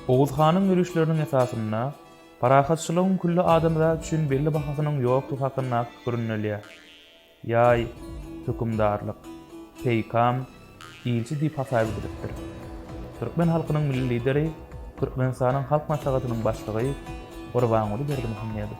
Oguz hanyň ýörişleriniň esasynda parahatçylygyň külli adamzat üçin belli bahasynyň ýokdugy hakyndaky pikir ündelýär. Ýaý, hökümdarlyk, peýkam, ilçi diýip hasaýyp edilipdir. Türkmen halkynyň Milli Lideri, Türkmenistanyň Halk Maslahatynyň Başlygy Gurbanguly Berdimuhamedow.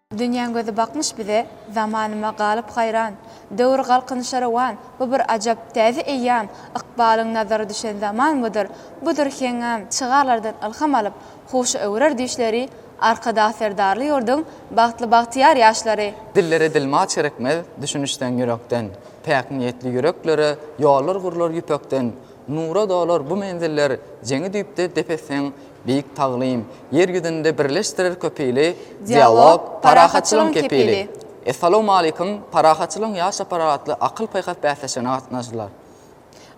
Dünýäň gözi bakmyş bize, Zamanyma galyp haýran. Döwür galkynyşa rowan, Bu bir ajap, täze eýýam. Ykbalyň nazary düşen zaman budur, Budur heňňam. Çygarlardan ylham alyp, Huşa öwrer düýşleri, Arkadag Serdarly ýurduň Bagtly bagtyýar ýaşlary. Dillere dilma çirikmez, Düşünişseň ýürekden. Päk niýetli ýüreklere Ýollar gurlar ýüpekden. Nura dolar bu menziller Jeňi düýpde dep etseň, beýik taglym. Ýer ýüzünde birleşdirer köp ili, Dialog, parahatçylygyň kepili. Essalawmaleýkum, Parahatçylygyň ýaş topary atly akyl-paýhas bäsleşigine gatnaşdylar.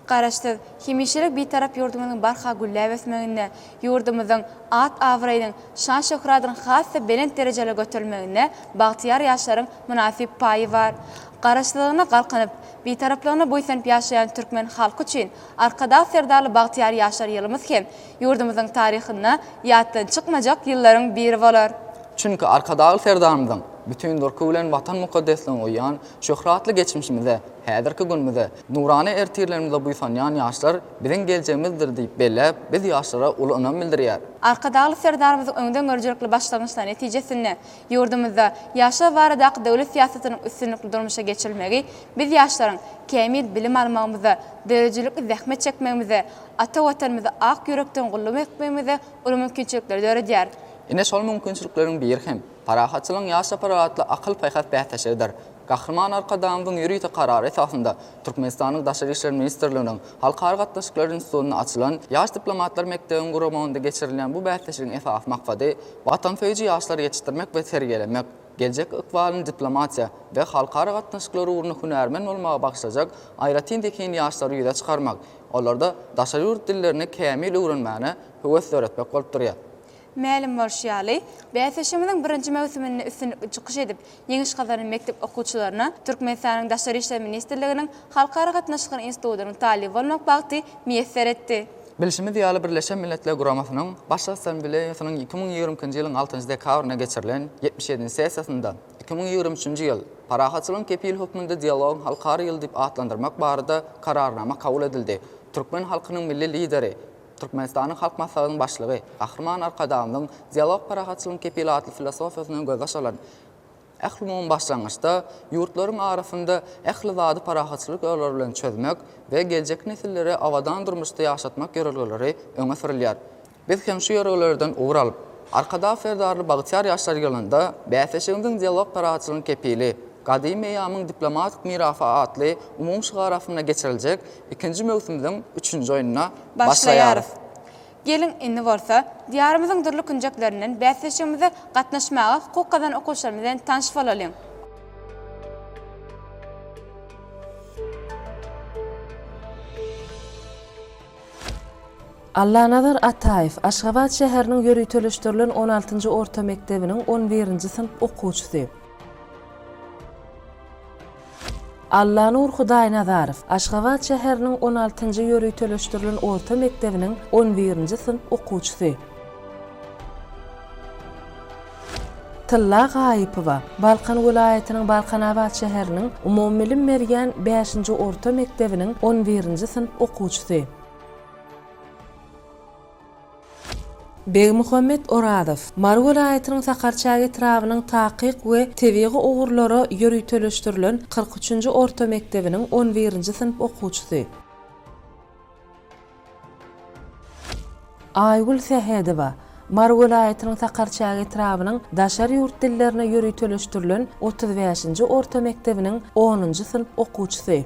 Garaşsyz, hemişelik Bitarap ýurdumyzyň barha gülläp ösmeginde, ýurdumyzyň at-abraýynyň, şan-şöhratynyň has-da belent derejelere göterilmeginde bagtyýar ýaşlaryň mynasyp paýy bar. Garaşsyzlygyna galkynyp, Bitaraplygyna buýsanyp ýaşaýan türkmen halky üçin Arkadag Serdarly bagtyýar ýaşar ýylymyz hem ýurdumyzyň taryhynda ýatdan çykmajak ýyllaryň biri bolar. Çünki Arkadagly Serdarymyzyň bütin durky bilen Watan mukaddesligine uýýan, şöhratly geçmişimize, häzirki günümize, nurana ertirlerimize buýsanýan ýaşlar biziň geljegimizdir diýip belläp, biz ýaşlara uly ynam bildirýär. Arkadagly Serdarymyzyň öňdengörüjilikli başlangyçlary netijesinde Ýurdumyzda ýaşlar baradaky döwlet syýasatynyň üstünlikli durmuşa geçirilmegi biz ýaşlaryň kämil bilim almagymyza, döredijilikli zähmet çekmegimize, ata Watanymyzy ak ýürekden gulluk etmegimize uly mümkinçilikleri döredýär. Ine şol mümkinçilikleriň biri hem, Parahatçylygyň ýaş çaparlar atly akyl-paýhas bäsleşigidir. Gahryman Arkadagymyzyň ýörite karary esasynda, Türkmenistanyň Daşary işler ministrliginiň Halkara gatnaşyklary institutynda açylan Ýaş diplomatlar mekdebiň guramagynda geçirilýän bu bäsleşigiň esasy maksady watansöýüji ýaşlary ýetişdirmek we terbiýelemek, geljek ykbalyny diplomatiýa we halkara gatnaşyklary ugrunda hünärmen bolmaga bagyşlajak aýratyn zehinli ýaşlary ýüze çykarmak, olarda daşary ýurt dillerini kämil öwrenmäne höwes döretmek bolup durýar. Mälim bolşy ýaly, bäsleşigimiziň birinji möwsüminde üstünlikli çykyş edip, ýeňiş gazanan mekdep okuwçylaryna Türkmenistanyň Daşary işler ministrliginiň Halkara gatnaşyklar institutynyň talyby bolmak bagty miýesser etdi. Bilşimiz ýaly, Birleşen Milletler Guramasynyň Baş Assambleýasynyň iki müň ýigrimi ikinji ýylyň altynjy dekabrynda geçirilen ýetmiş ýedinji sessiýasynda iki müň ýigrimi üçünji ýyl Parahatçylygyň kepili hökmünde dialogyň halkara ýyly diýip atlandyrmak barada Kararnama kabul edildi. Türkmen halkynyň Milli Lideri, Türkmenistanyň Halk Maslahatynyň Başlygy Gahryman Arkadagymyzyň Dialog parahatçylygyň kepili atly filosofiýasyndan gözbaş alan Ählumumy başlangyçda ýurtlaryň arasynda ähli zady parahatçylyk ýollary bilen çözmek we geljek nesillere abadan durmuşda ýaşatmak ýörelgeleri öňe sürülýär. Biz hem şu ýörelgelerden ugur alyp, Arkadag Serdarly bagtyýar ýaşlar ýylynda Bäsleşigimiziň Dialog parahatçylygyň kepili, Gadymy eýýamyň diplomatik mirasy atly umumy şygar astynda geçiriljek Ikinji möwsümüziň üçünji oýnuna başlaýarys. Geliň, indi bolsa, Diýarymyzyň dürli künjeklerinden bäsleşigimize gatnaşmaga hukuk gazan okuwçylarymyz bilen tanyş bolalyň! Allanazar Ataýew, Aşgabat şäheriniň ýöriteleşdirilen on altynjy orta mekdebiniň on birinji synp okuwçysy. Allanur Hudaýnazarow Aşgabat şäheriniň on altynjy ýöriteleşdirilen orta mekdebiniň on birinji synp okuwçysy. Tylla Gaýypowa Balkan welaýatynyň Balkanabat şäheriniň umumybilim berýän bäşinji orta mekdebiniň on birinji synp okuwçysy. Begmuhammet Orazow, Mary welaýatynyň Sakarçäge etrabynyň takyk we tebigy ugurlara ýöriteleşdirilen kyrk üçünji orta mekdebiniň on birinji synp okuwçysy. Aýgül Sähedowa, Mary welaýatynyň Sakarçäge etrabynyň daşary ýurt dillerine ýöriteleşdirilen otuz bäşinji orta mekdebiniň onunjy synp okuwçysy.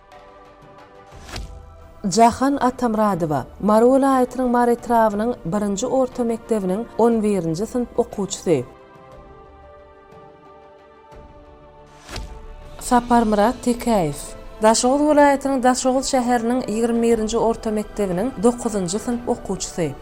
Jahan Atamyradowa, Mary welaýatynyň Mary etrabynyň birinji orta mekdebiniň on birinji synp okuwçysy. Saparmyrat Tekäýew, Daşoguz welaýatynyň Daşoguz şäheriniň ýigrimi birinji orta mekdebiniň dokuzynjy synp okuwçysy.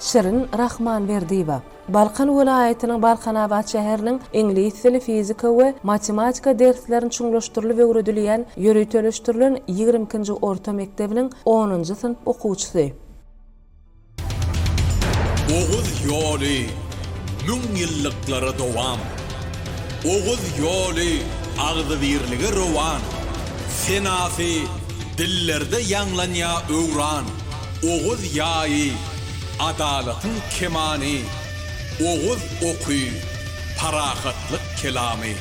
Şirin Rahmanberdiýewa, Balkan welaýatynyň Balkanabat şäheriniň iňlis dili, fizika we matematika derslerini çuňlaşdyrylyp öwredilýän ýöriteleşdirilen ýigrimi ikinji orta mekdebiniň onunjy synp okuwçysy. Oguz ýoly müň ýyllyklara dowam. Oguz ýoly agzybirlige rowan, Senasy dillerde ýaňlanýa öwran. Oguz ýaýy Adalatyň kemany, oguz oky, parahatlyk kelamy.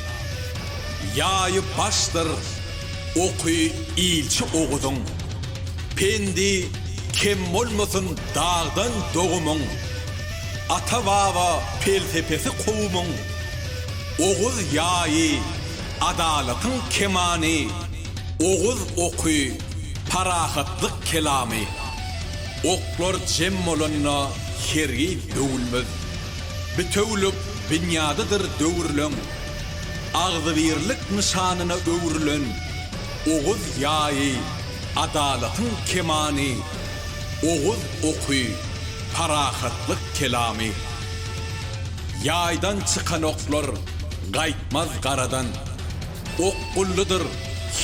Ýaýy başdyr oky ilçi Oguzyň. Pendi kem bolmasyn dagdan dogumyň. Ata-baba pelsepesi kowumyň. Oguz ýaýy, adalatyň kemany, oguz oky, parahatlyk kelamy. Oklar jem bolanda hergiz döwülmez. Bitewülik binýadydyr döwrüleň. Agzybirlik nyşanyna öwrülen Oguz ýaýy, adalatyň kemany, Oguz oky, parahatlyk kelamy. Ýaýdan çykan oklar gaýtmaz garadan. Okgunlydyr,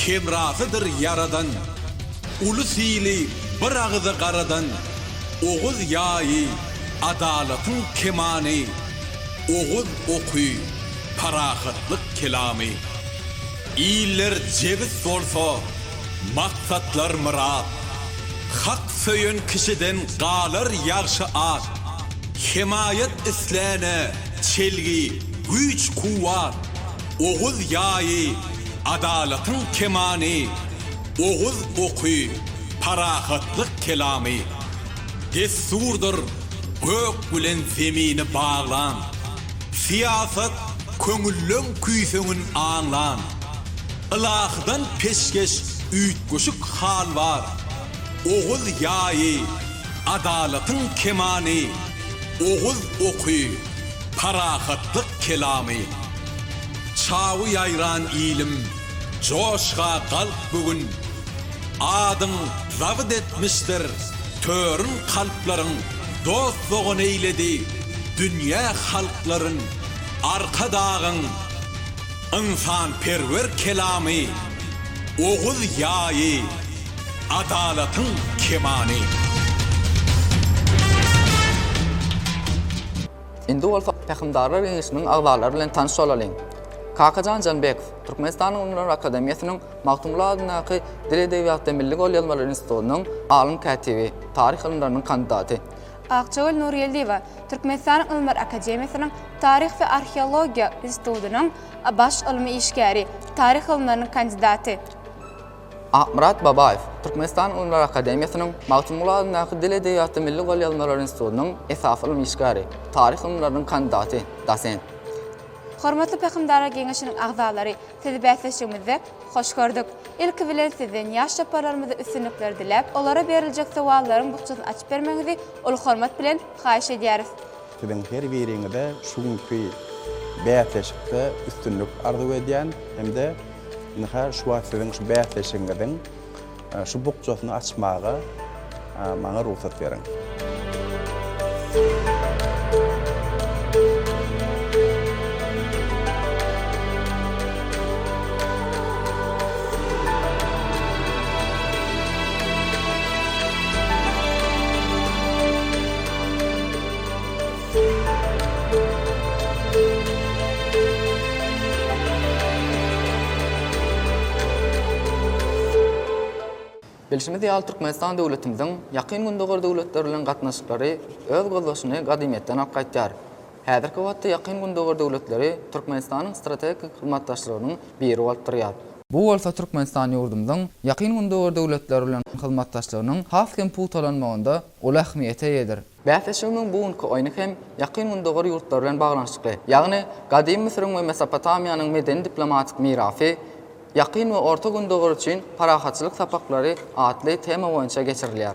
hemrasydyr ýaradan, Uly syny bir agyza garadan, Oguz ýaýy, adalatyň kemany, Oguz oky, parahatlyk kelamy. Iller jebis bolsa, maksatlar myrat, Hak söýen kişiden galar ýagşy at, Hemaýat isläne, çelgi, güýç-kuwwat. Oguz ýaýy, adalatyň kemany, Oguz oky, parahatlyk kelamy. Dessurdyr, gök bilen zemini baglan, Syýasat, köňülleň küýseňin aňlan. Ylahydan peşgeş üýtgeşik hal bar, Oguz ýaýy, adalatyň kemany, Oguz oky, Parahatlyk kelamy. Çawy ýaýran ilim, joşga galp bu gün. Adyň zabyt etmişdir törün kalplaryň, Dost-dogan eýledi dünýä halklaryn. Arkadagyň ynsanperwer kelamy, Oguz ýaýy. Adalatyň kemany. Indi bolsa Pähimdarlar geňeşiniň agzalary bilen tanyş bolalyň. Kakajan Janbekow, Türkmenistanyň Ylymlar akademiýasynyň Magtymguly adyndaky Dil edebiýat we milli golýazmalar institutynyň alym kätibi, taryh ylymlarynyň kandidaty. Akjagül Nurgeldiýewa, Türkmenistanyň Ylymlar akademiýasynyň Taryh we arheologiýa institutynyň baş ylmy işgäri, taryh ylymlarynyň kandidaty. Akmyrat Babaýew Türkmenistan Ylymlar akademiýasynyň Magtymguly adyndaky Dil edebiýaty milli golýazmalar institutynyň esasy ylmy işgäri, taryh ylymlarynyň kandidaty, dosent. Hormatly Pähimdarlar geňeşiniň agzalary, Sizi bäsleşigimizde hoş gördük. Ilki bilen Sizden ýaş çaparlarymyza üstünlikler diläp, olara beriljek sowallaryň bukjasyny açyp bermegiňizi uly hormat bilen haýyş edýäris. Siziň her biriňize şu günki bäsleşikde üstünlik arzuw edýän hem-de ynha şu wagt siziň şu bäsleşigiňiziň şu bukjasyny açmaga maňa rugsat beriň. Bilşimiz ýaly, Türkmenistan döwletimiziň Ýakyn Gündogar döwletleri bilen gatnaşyklary öz gözbaşyny gadymyýetden alyp gaýdýar. Häzirki wagtda Ýakyn Gündogar döwletleri Türkmenistanyň strategik hyzmatdaşlarynyň biri bolup durýar. Bu bolsa Türkmenistan ýurdumyzyň Ýakyn Gündogar döwletleri bilen hyzmatdaşlygynyň has hem pugtalanmagynda uly ähmiýete eýedir. Bäsleşigimiň bu günki oýny hem Ýakyn Gündogar ýurtlary bilen baglanyşykly, ýagny Gadymy Müsüriň we Mesopotamiýanyň medeni-diplomatik mirasy, Ýakyn we Orta Gündogar üçin parahatçylyk sapaklary atly tema boýunça geçirilýär.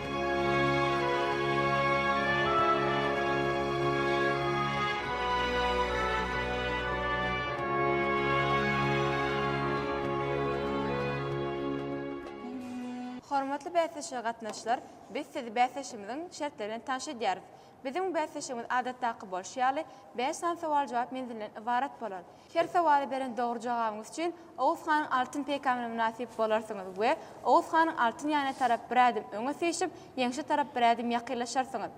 Hormatly bäsleşige gatnaşyjylar, biz sizi bäsleşigimiziň şertleri bilen tanyş edýäris. Biziň bäsleşigimiz adatdaky bolşy ýaly, bäş sany sowal-jogap menzilinden ybarat bolar. Her sowala beren dogry jogabyňyz üçin Oguz hanyň altyn peýkamyna mynasyp bolarsyňyz we Oguz hanyň altyn ýanyna tarap bir ädim öňe syýşyp, ýeňşe tarap bir ädim ýakynlaşarsyňyz.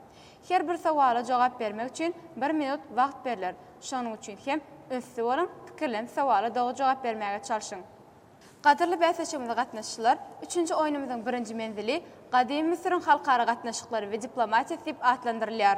Her bir sowala jogap bermek üçin bir minut wagt berler. Şonuň üçin hem ünsli boluň, pikirlenip sowala dogry jogap bermäge çalşyň. Gadyrly bäsleşigimize gatnaşyjylar, üçünji oýnumyzyň birinji menzili Gadymy Müsüriň halkara gatnaşyklary we diplomatiýasy diýip atlandyrylýar.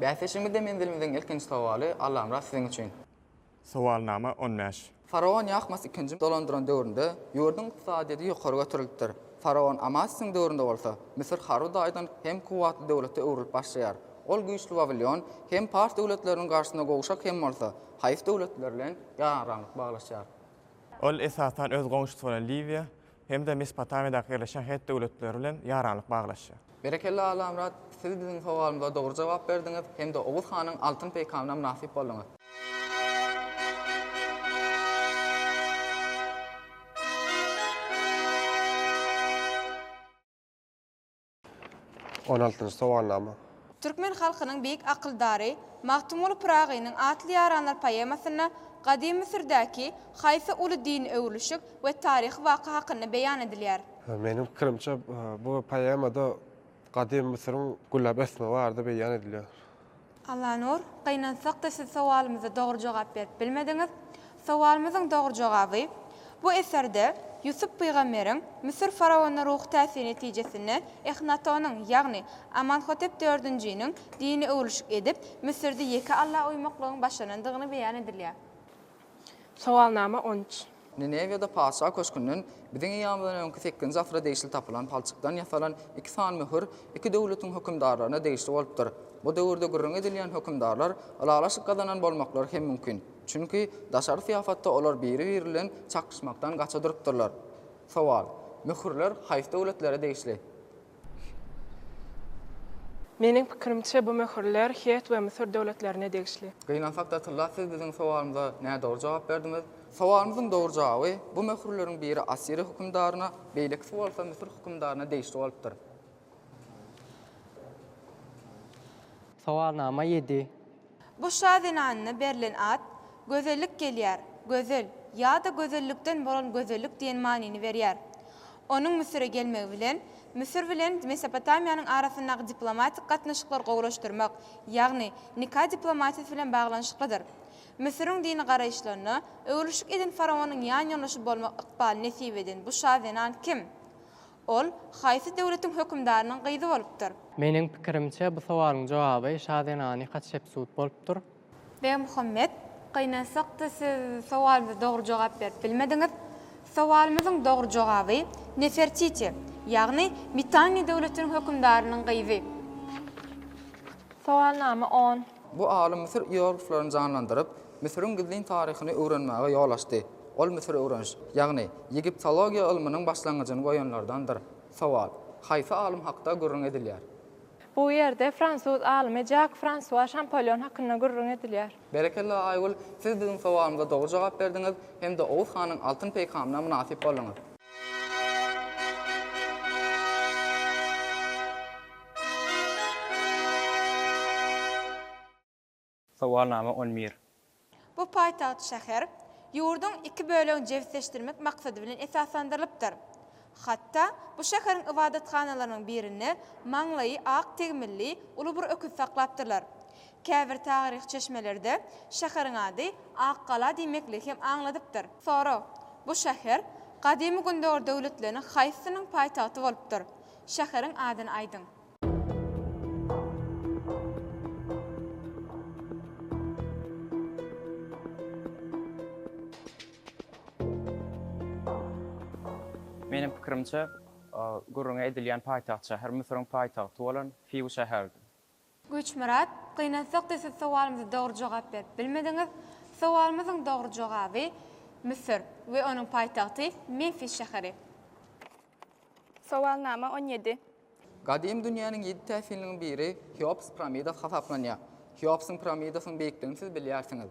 Bäsleşigimizde menzilimiziň ilkinji sowaly, Allamyrat siziň üçin. Sowalnama on bäş. Faraon Ýahmas ikinji dolandyran döwründe ýurduň ykdysadyýeti ýokary göterilipdir. Faraon Amasysyň döwründe bolsa, Müsür harby taýdan hem kuwwatly döwlete öwrülip başlaýar. Ol güýçli Wawilion hem pars döwletleriniň garşysyna gowşak hem bolsa, haýsy döwletler bilen ýaranraňlyk baglaşýar? Ol esasan öz goňşusy bolan Liwiýa, hem-de Mesopotamiýadaky ýerleşen het döwletleri bilen ýaranlyk baglaşýar. Berekella Allamyrat, siz biziň sowalymyza dogry jogap berdiňiz hem-de Oguz hanyň altyn peýkamyna mynasyp bolduňyz. On altynjy sowalnama. Türkmen halkynyň beýik akyldary Magtymguly Pyragynyň Atly ýaranlar poemasynda Gadymy Müsürdäki haýsy uly dini öwrülişik we taryhy waka hakynda beýan edilýär? Meniň pikirimçe, bu poemada Gadymy Müsüriň gülläp ösmegi barada beýan edilýär. Allanur, gynansak-da siz sowalymyza dogry jogap berip bilmediňiz. Sowalymyzyň dogry jogaby, bu eserde Ýusup pygamberiň Müsür faraonyna ruhy täsiri netijesinde Ehnatonyň, ýagny Amanhotep dördünjiniň dini öwrülişik edip, Müsürde ýeke Alla uýmaklygyň başlanandygyny beýan edilýär. Sowalnama on üç. Ninewiýada patyşa köşgünden biziň eýýamymyzdan öňki sekizinji asyra degişli tapylan palçykdan ýasalan iki sany möhür iki döwletiň hökümdarlaryna degişli bolupdyr. Bu döwürde gürrüňi edilýän hökümdarlar ylalaşyk gazanan bolmaklary hem mümkin. Çünki, daşary syýasatda olar biri-biri bilen çaknyşmakdan gaça durupdyrlar. Sowal. Möhürler haýsy döwletlere degişli? Meniň pikirimçe bu möhürler Het we Müsür döwletlerine degişli. Gynansak da tylla siz biziň sowalymyza nädogry jogap berdiňiz. Sowalymyzyň dogry jogaby, bu möhürleriň biri Assiriýa hökümdaryna, beýlekisi bolsa Müsür hökümdaryna degişli bolupdyr. Sowalnama ýedi. Bu şa zenanyna berlen at Gözellik gelýär, gözel, ýa-da gözellikden bolan gözellik diýen manyny berýär. Onuň Müsüre gelmegi bilen, Müsür bilen Mesopotamiýanyň arasyndaky diplomatik gatnaşyklary gowulaşdyrmak, ýagny nika diplomatiýasy bilen baglanyşyklydyr. Müsüriň dini garaýyşlaryna öwrülişik eden faraonyň ýanýoldaşy bolmak ykbaly nesip eden bu şa zenan kim? Ol haýsy döwletiň hökümdarynyň gyzy bolupdyr? Meniň pikirimçe, bu sowalyň jogaby şa zenany Hatşepsut bolupdyr. Begmuhammet, gynansakda siz sowalymyza dogry jogap berip bilmediňiz. Sowalymyzyň dogry jogaby Nefertiti, ýagny Mitanni döwletiniň hökümdarynyň gyzy. Sowalnama on. Bu alym Müsür ierogliflerini janlandyryp, Müsüriň gizlin taryhyny öwrenmäge ýol açdy. Ol Müsür öwreniş, ýagny Egiptologiýa ylmynyň başlangyjyny goýanlardandyr. Sowal, Haýsy alym hakda gürrüň edilýär? Bu ýerde fransuz alymy Jak Fransua Şampolýon hakynda gürrüň edilýär. Berekella Aýgül, siz biziň sowalymyza dogry jogap berdiňiz hem-de Oguz hanyň altyn peýkamyna mynasyp bolduňyz. Sowalnama on bir. Bu paýtagt şäher ýurduň iki bölegini jebisleşdirmek maksady bilen esaslandyrylypdyr. Hatda bu şäheriň ybadathanalarynyň birinde maňlaýy ak tegmilli uly bir öküz saklapdyrlar. Käbir taryhy çeşmelerde şäheriň ady Ak gala diýmekligi hem aňladypdyr. Sorag, Bu şäher gadymy Gündogar döwletleriniň haýsysynyň paýtagty bolupdyr? Şäheriň adyny aýdyň. Meniň pikirimçe, gürrüňi edilýän paýtagt şäher Müsüriň paýtagty bolan Fiw şäherdi. Güýçmyrat, gynansak-da siz sowalymyza dogry jogap berip bilmediňiz. Sowalymyzyň dogry jogaby, Müsür we onuň paýtagty Memfis şäheri. Sowalnama on ýedi. Gadym dünýäniň ýedi täsinliginiň biri Heops piramidasy hasaplanýar. Heopsyň piramidasynyň beýikligini siz bilýärsiňiz.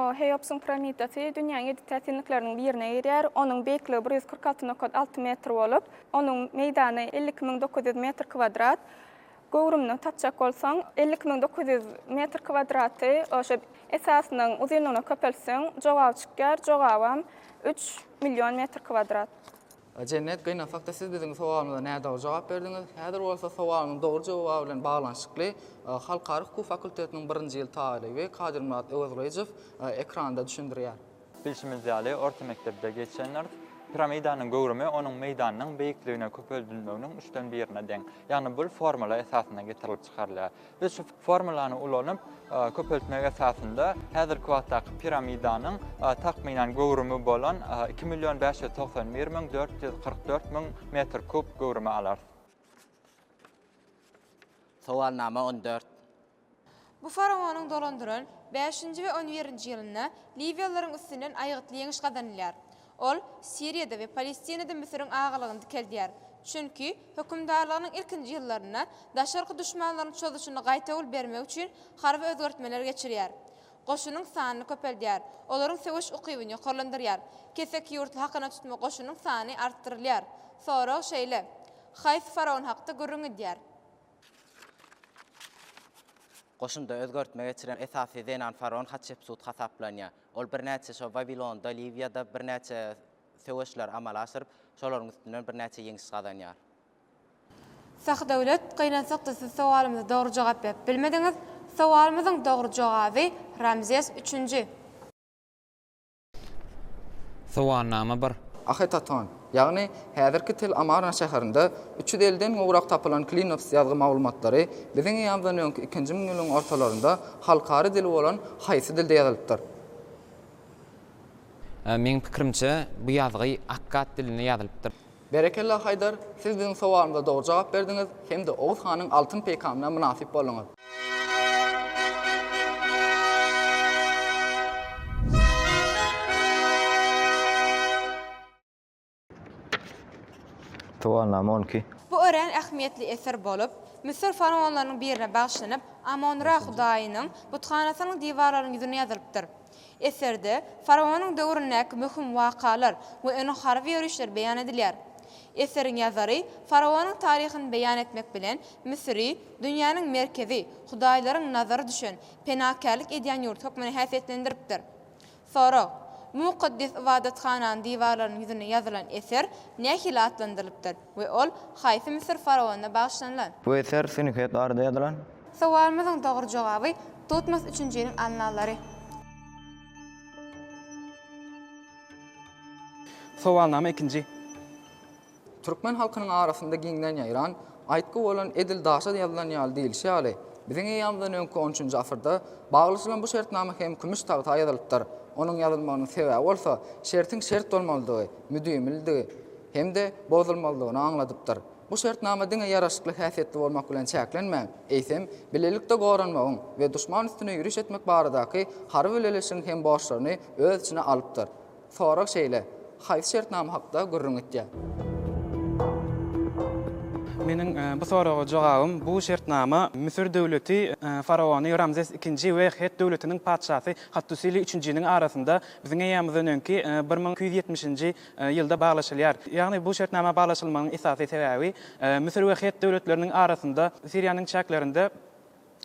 O, Heopsyň piramidasy dünýäň ýedi täsinlikleriniň birine girýär. Onuň beýikligi bir ýüz kyrk alty nokat alty metr bolup, onuň meýdany elli iki müň dokuz ýüz metr kwadrat. Göwrümini tapjak bolsaň, elli iki müň dokuz ýüz metr kwadraty oşa esasynyň uzynlygyna köpeltseň, jogaby çykýar, jogabam üç million metr kwadrat. Jennet, Gynansakda siz biziň sowalymyza nädogry jogap berdiňiz. Häzir bolsa sowalyňyzyň dogry jogaby bilen baglanyşykly Halkara hukuk fakultetiniň birinji ýyl talyby Kadyrmyrat Öwezgylyjow ekranda düşündirýär. Bilşimiz ýaly, orta mekdepde geçenler, piramidanyň göwrümi onuň meýdanynyň beýikligine köpeldilmeginiň üçden birine deň. Ýagny bul formula esasynda getirilip çykarylýar. Biz şu formulany ulanyp, köpeltmek esasynda häzirki wagtdaky piramidanyň takmynan göwrümi bolan iki million bäş ýüz togsan bir müň dört ýüz kyrk dört müň metr kub göwrümi alarys. Sowalnama on dört. Bu faraonyň dolandyran bäşinji we on birinji ýylynda liwiýalylaryň üstünden aýgytly ýeňiş gazanylýar. Ol Siriýada we Palestinada Müsüriň agalygyny dikeldýär. Çünki, hökümdarlygynyň ilkinji ýyllarynda daşarky duşmanlaryň çozuşyny gaýtawul bermek üçin harby özgertmeler geçirýär. Goşunyň sanyny köpeldýär. Olaryň söweş ukybyny ýokarlandyrýar. Keseki ýurtly hakyna tutma goşunyň sany artdyrylýar. Sorag şeýle, Haýsy faraon hakda gürrüň edýär? Goşunda özgertme geçiren esasy zenan faraon Hatşepsut hasaplanýar. Ol birnäçe şo Wawilonda, Liwiýada birnäçe söweşler amala aşyryp, şolaryň üstünden birnäçe ýeňiş gazanýar. Sahdöwlet, gynansakda siz sowalymyza dogry jogap berip bilmediňiz. Sowalymyzyň dogry jogaby, Ramzes üçünji. Sowalnama bir. Ahytaton, Ýagny, häzirki Tel Amarna şäherinde üç ýüz elli'den gowrak tapylan Klinops ýazgy maglumatlary biziň eýamyzdan öňki ikinji müňýyllygyň ortalarynda halkara dili bolan haýsy dilde ýazylypdyr? Meň pikirimçe, bu ýazgy akkad dilinde ýazylypdyr. Berekella Haýdar, siz biziň sowalymyza dogry jogap berdiňiz hem-de Oguz hanyň altyn peýkamyna mynasyp bolduňyz. Tuwalnama on iki. Bu örän ähmiýetli eser bolup, Müsür faraonlarynyň birine bagyşlanyp, Amon-Ra hudaýynyň buthanasynyň diwarlarynyň ýüzüne ýazylypdyr. Eserde faraonyň döwründäki möhüm wakalar we onuň harby ýörişleri beýan edilýär. Eseriň ýazary faraonyň taryhyny beýan etmek bilen, Müsüri dünýäniň merkezi, hudaýlaryň nazary düşen, penakärlik edýän ýurt hökmünde häsiýetlendiripdir. Sorag, Mukaddes ybadathananyň diwarlarynyň ýüzüne ýazylan eser nähili atlandyrylypdyr we ol haýsy Müsür faraonyna bagyşlanylan? Bu eser Sünhek Arda ýazylan. Sowalymyzyň dogry jogaby, Tutmos üçünjiniň Annallary. Sowalnama ikinji. Türkmen halkynyň arasynda giňden ýaýran aýtgy bolan Edil daşa ýazylan ýaly diýlişi ýaly, biziň eýýamyzdan öňki on üçünji asyrda baglaşylan bu şertnama hem kümüş tagta ýazylypdyr. Onuň ýazylmagynyň sebäbi bolsa şertiň şert bolmalydygy, müdimilidigi hem-de bozulmazlygyny aňladypdyr. Bu şertnama diňe ýaraşykly häsiýetli bolmak bilen çäklenmän, eýsem, bilelikde goranmagyň we duşman üstüne ýüriş etmek baradaky harby bileleşigiň hem borçlaryny öz içine alypdyr. Sorag şeýle, Haýsy şertnama hakda gürrüň etýär? Meniň bu soraga jogabym, bu şertnama Müsür döwleti faraony Ramzes II we Het döwletiniň patyşasy Hattusili üçünjiniň arasynda biziň eýýamyzdan öňki bir müň iki ýüz ýetmişinji ýylda baglaşylýar. Ýagny bu şertnama baglaşylmagynyň esasy sebäbi, Müsür we Het döwletleriniň arasynda Siriýanyň çäklerinde,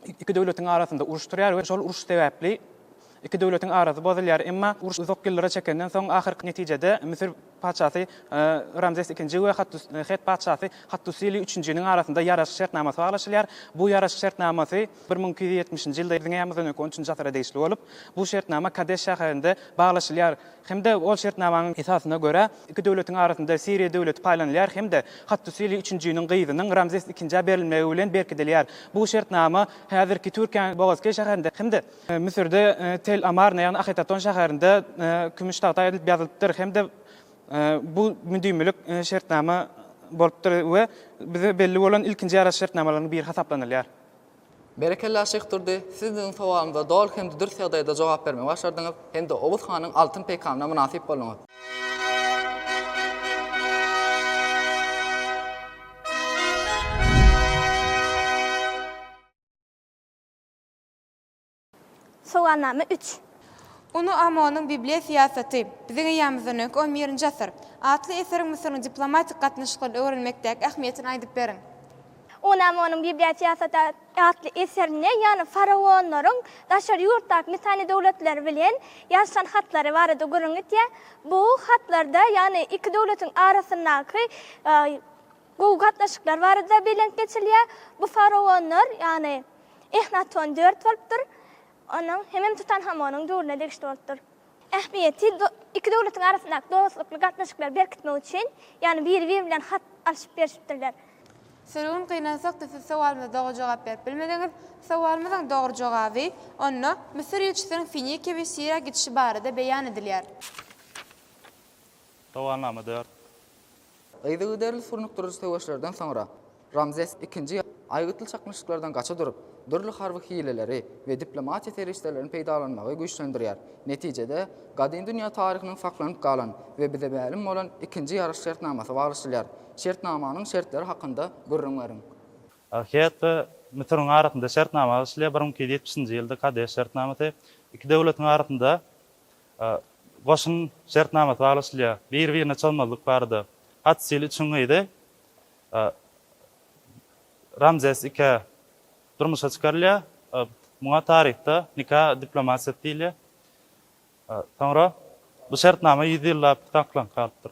iki döwletiň arasynda uruş turýar we şol uruş sebäpli iki döwletiň arasy bozulýar. Emma uruş uzak ýyllara çekenden soň, ahyrky netijede Müsür patyşasy Ramzes II we Het patyşasy Hattusili üçünjiniň arasynda ýaraşyk şertnamasy baglaşylýar. Bu ýaraşyk şertnamasy bir müň iki ýüz ýetmişinji ýylda, Biziň äramyzdan öňki on üçünji asyra degişli bolup, bu şertnama Kadeş şäherinde baglaşylýar. hem-de ol şertnamanyň esasyna görä, iki döwletiň arasynda Siriýa döwleti paýlanylýar hem-de Hattusili üçünjiniň gyzynyň Ramzes II-ä berilmegi bilen berkidilýär. Bu şertnama häzirki Türkiýäniň Bogazkeý şäherinde hem-de. Müsürde Tel Amarna, ýagny Ahetaton şäherinde kümüş tagta edilip ýazylypdyr hem-de bu müdimilik şertnama bolupdyr we bize belli bolan ilkinji ýaraş şertnamalaryň biri hasaplanylýar. Berekella Şyh Durdy, siz biziň sowalyňyza doly hem-de dürs ýagdaýda jogap bermegi başardyňyz hem-de Oguz hanyň altyn peýkamyna mynasyp bolduňyz. Sowalnama üç. Uny Amonyň Bibliýa syýasaty, Biziň eýýamymyzdan öňki on birinji asyr atly eseriň Müsüriň diplomatik gatnaşyklaryny öwrenmekdäki ähmiýetini aýdyp beriň. Uny Amonyň Bibliýa syýasaty atly eserinde ýaly faraonlaryň daşary ýurtdaky Misany döwletleri bilen ýalyşan hatlary barada gürrüň etýär. Bu hatlarda ýaly iki döwletiň arasyndaky Gowy gatnaşyklar barada belent geçilýär. Bu faraonlar, ýagny Ehnaton dört bolupdyr. Onuň hemem Tutanhamonyň döwrüne degişli bolupdyr. Ähmiýeti, Iki döwletiň arasyndaky dostlukly gatnaşyklary berkitmek üçin, ýagny biri-biri bilen hat alşyp-berşipdirler. Sürgün gynansakda siz sowalymyza dogry jogap berip bilmediňiz. Sowalymyzyň dogry jogaby, onda Müsür ilçisiniň Finikiýa we Siriýa gidişi barada beýan edilýär. Dowamnama dört. Yzygiderli surnukdyryjy söweşlerden soňra, Ramzes II aýgytly çaknyşyklardan gaça durup, dürli harby hileleri we diplomatiýa serişdelerini peýdalanmagy güýçlendirýär. Netijede, gadymy dünýä taryhynyň saklanyp galan we bize mälim bolan ikinji ýaryş şertnamasy baglaşylýar. Şertnamanyň şertleri hakynda gürrüň beriň. Ahyýet we Müsüriň arasynda şertnama baglaşylýar, bir müň iki ýüz ýetmişinji ýylda Kadeş şertnamasy, iki döwletiň arasynda Goşun şertnamasy baglaşylýar. Bir-birine çozmazlyk barada. Hatsil üçin gyzy Ramzes II durmuşa çykarylýar. Muňa taryhda nika diplomatiýasy diýilýär. Soňra bu şertnama ýüz ýyllap saklanp galypdyr.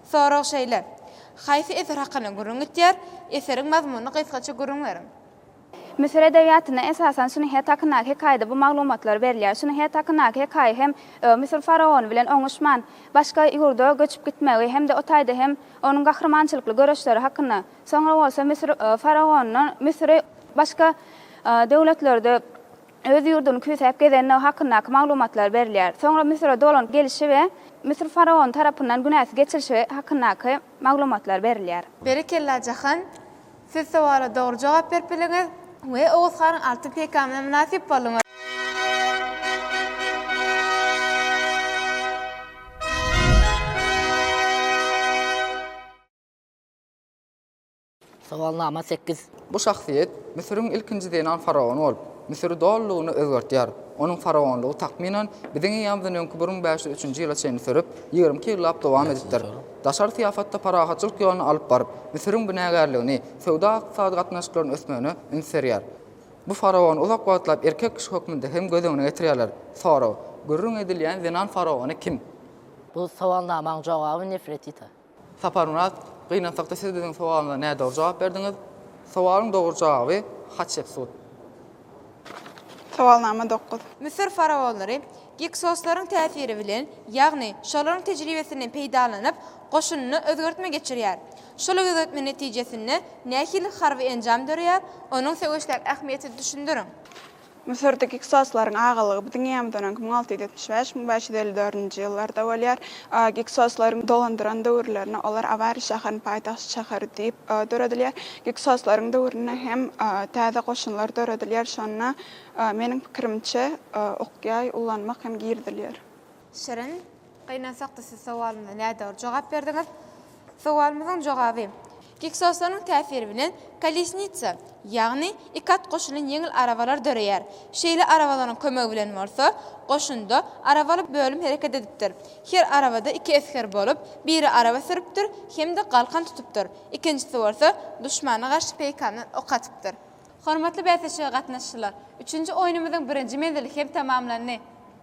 Sorag şeýle, Haýsy eser hakynda gürrüň gitýär? Eseriň mazmunyny gysgaça gürrüň beriň. Müsür edebiýatynda esasan Şunyhet hakyndaky hekaýada bu maglumatlar berilýär. Şunyhet hakyndaky hekaýa hem Müsür faraony bilen oňuşman, başga ýurda göçüp gitmegi hem-de o taýda hem onuň gahrymançylykly göreşleri hakynda, soňra bolsa Müsür faraonyndan Müsüri başga döwletlerde öz ýurduny küýsäp gezendigi hakyndaky maglumatlar berilýär. Soňra Müsüre dolanyp gelişi we Müsür faraony tarapyndan günäsi geçilişi hakyndaky maglumatlar berilýär. Berekella Jahan! Siz sowala dogry jogap berip bildiňiz we Oguz hanyň altyn peýkamyna mynasyp bolduňyz. Sowalnama sekiz. Bu şahsyýet Müsüriň ilkinji zenan faraony bolup, Müsüri dolulygyna özgertýär. Onuň faraonlygy takmynan Biziň eýýamyzdan öňki bir müň bäş ýüz üçünji ýyla çenli sürüp, ýigrimi iki ýyllap dowam edipdir. Daşary syýafatda parahatçylyk ýoluny alyp baryp, Müsüriň binägärligini, söwda-ykdysady gatnaşyklaryny ösmegine üns berýär. Bu faraony uzak wagtlap erkek kişi hökmünde hem göz öňüne getirýärler. Sorag, Gürrüň edilýän zenan faraony kim? Bu sowalnamaň jogaby Nefretita. Saparmyrat, gynansakda siz biziň sowalymyza nädogry jogap berdiňiz. Sowalyň dogry jogaby, Hatşepsut. Sowalnama dokuz. Müsür faraonlary Giksoslaryň täsiri bilen, ýagny şolaryň tejribesinden peýdalanyp, goşunyna özgertme geçirýär. Şol özgertme netijesinde nähili harby enjam döreýär, onuň söweşdäki ähmiýetini düşündiriň. Müsürde Giksoslaryň agalygy biziň eýýämizden öňki müň alty ýüz ýetmiş bäş, müň bäş ýüz elli dördünji ýyllarda bolýar. Giksoslaryň dolandyran döwürlerinde olar Awari şäheriniň paýtagt şäheri diýip döredilýär. Giksoslaryň döwründe hem täze goşunlar döredilýär. Şonda, meniň pikirimçe, okýaý ullanmak hem girizilýär. Şirin, Gynansak-da siz sowalymyza nädogry jogap berdiňiz. Sowalymyzyň jogaby, Giksoslaryň täsiri bilen kolesnitsa, ýagny iki at goşulan ýeňil arabalar döreýär. Şeýle arabalaryň kömegi bilen bolsa, goşunda arabaly bölüm hereket edipdir. Her arabada iki esger bolup, biri araba sürüpdir hem-de galkan tutupdyr, ikinjisi bolsa duşmana garşy peýkamdan ok atypdyr. Hormatly bäsleşige gatnaşyjylar, üçünji oýnumyzyň birinji menzili hem tamamlandy.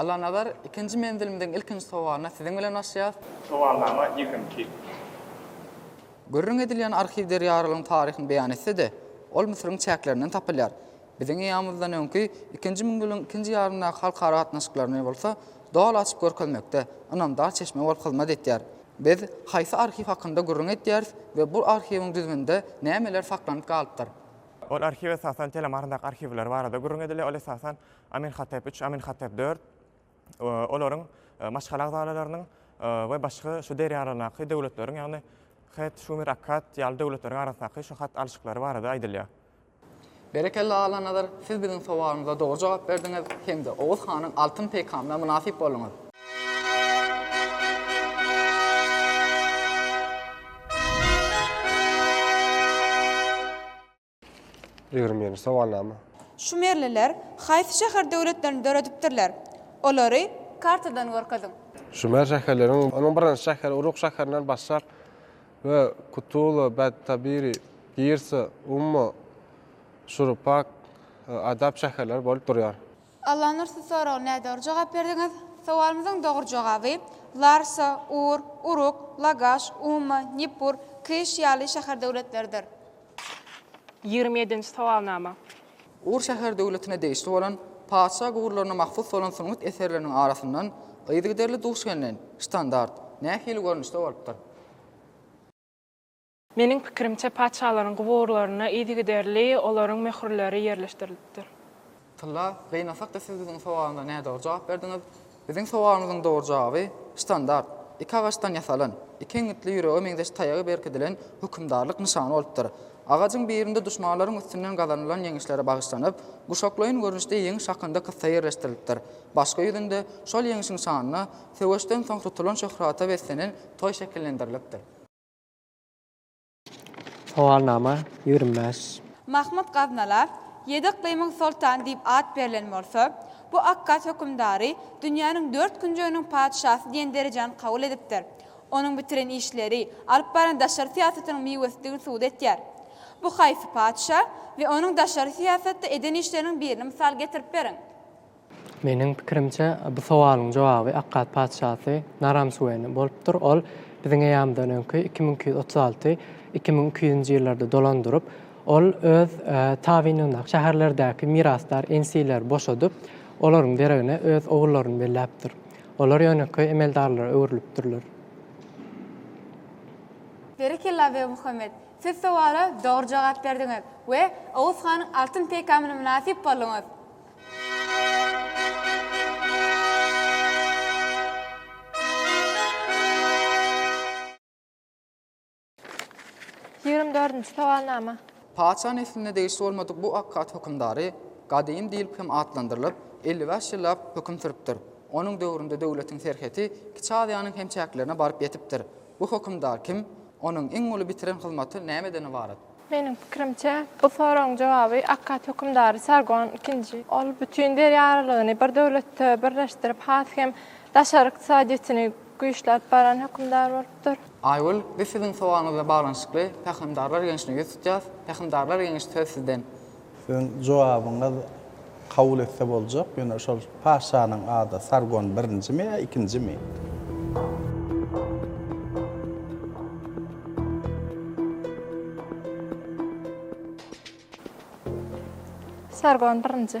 Allanazar, ikinji menzilimiziň ilkinji sowalyna siziň bilen başlaýarys. Sowalnama ýekimki. Gürrüň edilýän arhiw Derýarylyň taryhyny beýan etse-de, ol Müsüriň çäklerinden tapylýar. Biziň eýamyzdan öňki ikinji müňýylyň ikinji ýarymyndaky halkara gatnaşyklaryny bolsa doly açyp görkezmekde ynamdar çeşme bolup hyzmat etýär. Biz haýsy arhiw hakynda gürrüň edýäris we bu arhiwiň düzüminde nämeler saklanyp galypdyr? Ol arhiw esasan Telam arasyndaky arhiwler barada gürrüň edilýär, ol esasan Amenhotep I, Amenhotep IV, olaryň maşgala agzalalarynyň we başga şu derýa aralygynaky döwletleriň, ýagny Het, Şumer, Akkad ýaly döwletleriň arasyndaky şu hat alyşyklary barada aýdylýar. Berekella Allanazar, siz biziň sowalymyza dogry jogap berdiňiz hem-de Oguz hanyň altyn peýkamyna mynasyp bolduňyz. Ýigrimi ýedinji sowalnama. Şumerliler haýsy şäher döwletlerini döredipdirler? Olary kartadan görkeziň. Şumer şäherleriň onuň birinji şäheri Uruk şäherinden başlap we Kutula, Bad-Tabiri, Girsa, Umma, Şurupak, Adap şäherleri bolup durýar. Allanur siz soraga nädogry jogap berdiňiz. Sowalymyzyň dogry jogaby Larsa, Ur, Uruk, Lagaş, Umma, Nippur, Kiş ýaly şäher-döwletlerdir. Ýigrimi ýedinji sowalnama. Ur şäher-döwletine degişli bolan patyşa gurlaryna mahsus bolan sungat eserleriniň arasyndan yzygiderli duş gelnen, ştandart, nähili görnüşde bolupdyr? Meniň pikirimçe, patyşalaryň guburlaryna yzygiderli olaryň möhürleri ýerleşdirilipdir. Tylla, Gynasak-da siz biziň sowalymyza nädogry jogap berdiňiz. Biziň sowalymyzyň dogry jogaby, ştandart, iki agaçdan ýasalan, iki iňňitli ýürege meňzeş taýagy berkidilen hökümdarlyk nyşany bolupdyr. Agajyň birinde duşmanlaryň üstünden gazanylan ýeňişlere bagyşlanyp, guşaklaýyn görnüşde ýeňiş hakynda kyssa ýerleşdirilipdir, başga ýüzünde, şol ýeňişiň şanyna, söweşden soň tutulan şöhrata beslenen toý şekillendirilipdir. Sowalnama ýigrimi bäş. Mahmyt Gaznala Ýedi yklymyň soltany diýip at berlen bolsa, bu akkad hökümdary dünýäniň dört künjeginiň patyşasy diýen derejäni kabul edipdir. Onuň bitiren işleri, alyp baran daşary syýasatynyň miwesidigini subut etýär. Bu haýsy patyşa we onuň daşary syýasatda eden işleriniň birini mysal getirip beriň. Meniň pikirimçe, bu sowalyň jogaby Akkad patyşasy Naram-Suweni bolupdyr. Ol biziň eýýamyzdan öňki iki müň iki ýüz otuz alty, iki müň iki ýüzünji ýyllarda dolan durup, ol öz tabynyndaky şäherlerdäki mirasdar ensileri boşadyp, olaryň deregine öz ogullaryny belläpdir. Olar ýönekeý emeldarlara öwrülipdirler. Berekella Begmuhammet! Siz sowala dogry jogap berdiňiz we Oguz hanyň altyn peýkamyna mynasyp bolduňyz. Ýigrimi dördünji sowalnama. Paça nesline degişli bolmadyk bu akkat hökümdary Gadym diýlip hem atlandyrylyp, elli bäş ýyllap höküm sürüpdir. Onuň döwründe döwletiň serheti Kiçi Aziýanyň hem çäklerine baryp ýetipdir. Bu hökümdar kim? Onuň iň uly bitiren hyzmaty nämeden ybarat? Meniň pikirimçe, bu soragyň jogaby akkad hökümdary Sargon II. Ol bütin derýa aralygyny bir döwletde birleşdirip, has hem daşary ykdysadyýetini güýçläp baran hökümdar bolupdyr. Aýgül, biz siziň sowalyňyzla baglanyşykly Pähimdarlar geňşine ýüz tutýas, Pähimdarlar geňeşi söz sizden. Siziň jogabyňyz kabul etse boljak, ýöne şol patyşanyň ady Sargon birinjimi ýa ikinjimi? Sargon birinji.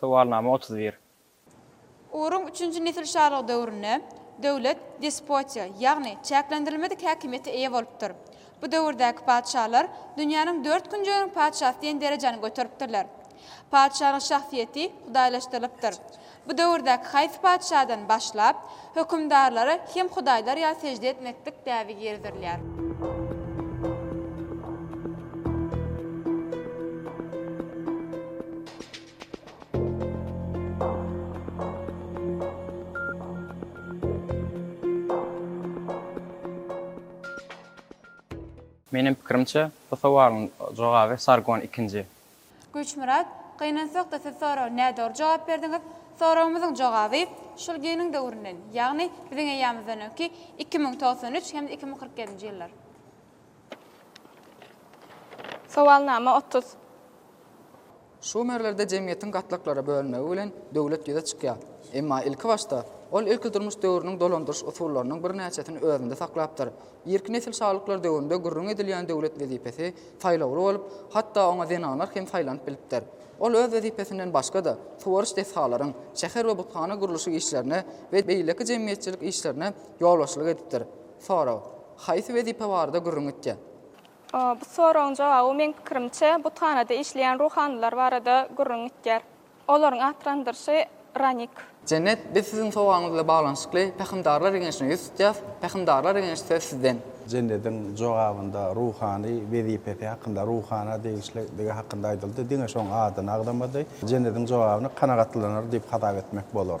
Sowalnama otuz bir. Uruň üçünji nesil şalygy döwründe döwlet despotiýa, ýagny çäklendirilmedik häkimiýete eýe bolupdyr. Bu döwürdäki patyşalar dünýäniň dört künjeginiň patyşasy diýen derejäni göteripdirler. Patyşanyň şahsyýeti hudaýlaşdyrylypdyr. Bu döwürdäki haýsy patyşadan başlap, hökümdarlara hem hudaýlar ýaly sežde etmeklik däbi girizilýär? Meniň pikirimçe, bu sowalyň jogaby Sargon II. Güýçmyrat, Gynansak-da siz soraga nädogry jogap berdiňiz. Soragymyzyň jogaby şul geniň döwründen, ýagny biziň eýýamyzdan öňki iki müň togsan üç hem-de iki müň kyrk ýedinji ýyllar. Sowalnama otuz. Şumerlerde jemgyýetiň gatlaklara bölünmegi bilen döwlet ýüze çykýar. Emma ilki başda, ol ilkidurmuş döwrüniň dolandyryş usullarynyň birnäçesini özünde saklapdyr. Irki nesil şalyklar döwründe gürrüň edilýän döwlet wezipesi saýlawly bolup, hatda oňa zenanlar hem saýlanyp bilipdir. Ol öz wezipesinden başga-da, suwaryş desgalaryň, şäher we buthana gurluşyk işlerine we beýleki jemgyýetçilik işlerine ýolbaşçylyk edipdir. Sorag, Haýsy wezipe barada gürrüň etýär? Bu soragyň jogaby, meň pikirimçe, buthanada işleýän ruhanylar barada gürrüň etýär. Olaryň atlandyryşy Ranik. Jennet, biz siziň sowagyňyz bilen baglanyşykly Pähimdarlar geňeşine ýüz tutýas, Pähimdarlar geňeşi söz sizden. Jennediň jogabynda ruhany wezipesi hakynda ruhana degişlidigi hakynda aýdyldy, diňe şoň adyny agzamady. Jennediň jogabyny kanagatlanar diýip hasap etmek bolar.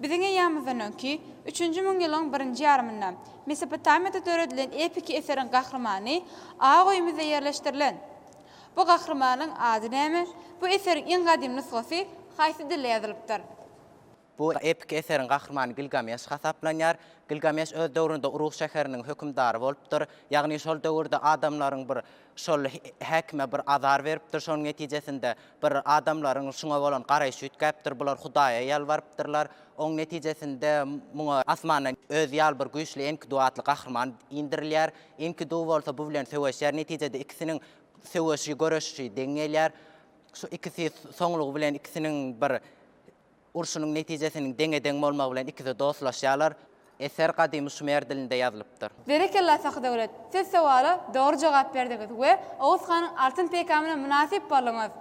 Biziň eýýamymyzdan öňki, üçünji müňýylyň birinji ýarymynda Mesopotamiýada döredilen epiki eseriň gahrymany A goýumyzda ýerleşdirilen. Bu gahrymanyň ady näme? Bu eseriň iň gadym nusgasy haýsy dilde ýazylypdyr? Bu epiki eseriň gahrymany Gilgameş hasaplanýar. Gilgameş öz döwründe Uruk şäheriniň hökümdary bolupdyr. Ýagny şol döwürde adamlaryň bir Şol häkime bir azar beripdir, şonuň netijesinde bir adamlaryň şuňa bolan garaýşy üýtgäpdir, bular Hudaýa ýalbarypdyrlar. Oň netijesinde muňa asmandan özi ýaly bir güýçli Enkidu atly gahryman indirilýär. Enkidu bolsa bu bilen söweşýär. Netijede ikisiniň söweşi, göreşişi deň gelýär. Şu ikisi soňlugy bilen ikisiniň bir Urşunyň netijesiniň deňe-deň bolmagy bilen ikisi dostlaşýarlar. Eser gadymy şumer dilinde ýazylypdyr. Berekella Sahdöwlet! Siz sowala dogry jogap berdiňiz we Oguz hanyň altyn peýkamyna mynasyp bolduňyz.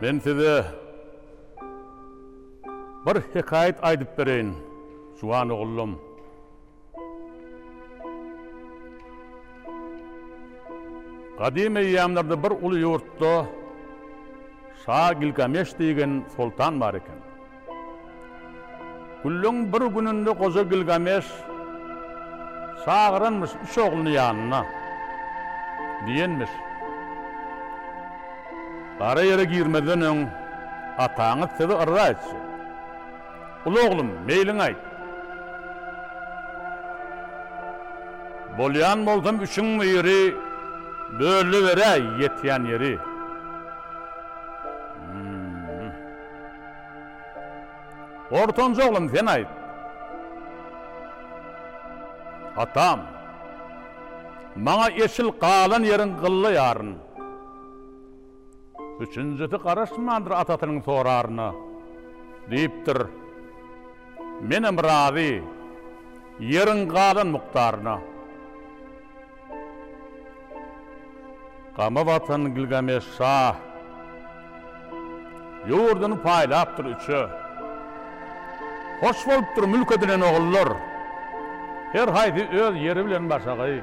Men size bir hekaýat aýdyp bereýin, juwan ogullum. Gadym eýýamlarda bir uly ýurtda şa Gilgameş diýgen soltan bar eken. Günleň bir gününde goja Gilgameş çagyranmyş üç ogluny ýanyna. Diýenmiş. Gara ýere girmezden öň ataňyz sizi yrza etjek. Uly oglum, meýliň aýt. Bolýan bolsam üçiň biri bölüberäý ýetýän ýeri. Ortanjy oglum, sen aýt. Atam. Maňa eşil galan ýeriň gylla ýaryn. Üçünjisi garaşmandyr atasynyň soraryna. Diýipdir, Menem razy, ýeriň galan mukdaryna. Gama batan Gilgameş şa ýurduny paýlapdyr üçe. Hoş bolupdyr mülk edinen ogullar, her haýsy öz ýeri bilen başagaý.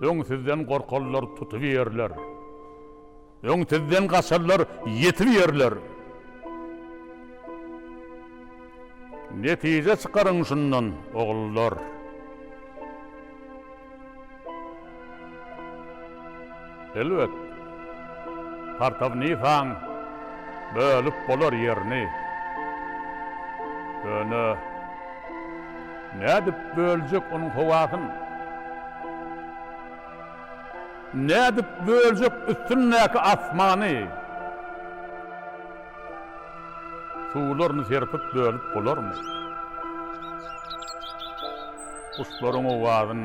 Öň sizden gorkarlar, tutup ýerler. Öň sizden gaçarlar, ýetip ýerler. Netije çykaryň şundan, ogullar. Elbet, Partawnifan bölüp bolar ýerini. Ýöne nädip böljek onuň howasyn? Nädip böljek üstündäki asmany? Suwlaryny serpip bölüp bolarmy? Guşlaryň owazyn.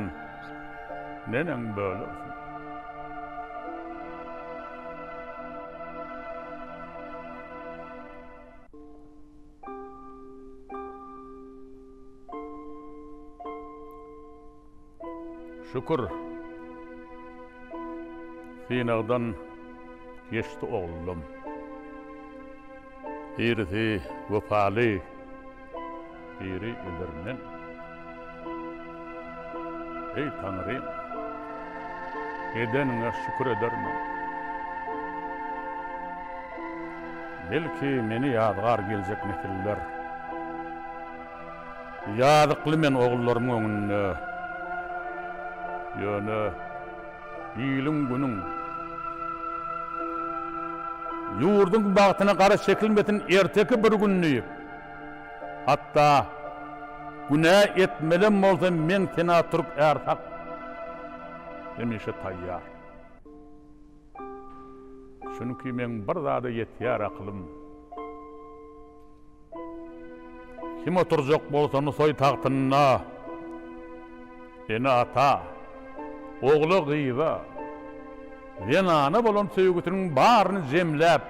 Neneň bölersiň? Şükür. Synagdan geçdi oglum. Birisi wepaly. Biri edermen. Eý Taňrym! Edeniňe şükür edermen. Belki meni ýazgar geljek nesiller. Ýazykly men ogullarymyň öňünde. Ýöne iliň-günüň, ýurduň bagtyna gara çekilmesin erteki bir gün diýip. Hatda günä etmelem bolsam meň tenä türk är hak hemişe taýýar. Çünki meň bir zada ýetýär akylym. Kim oturjak bolsa Nusaý tagtynda. Ene-ata, ogla-gyza, zenana bolan söýgüsiniň baryny jemläp,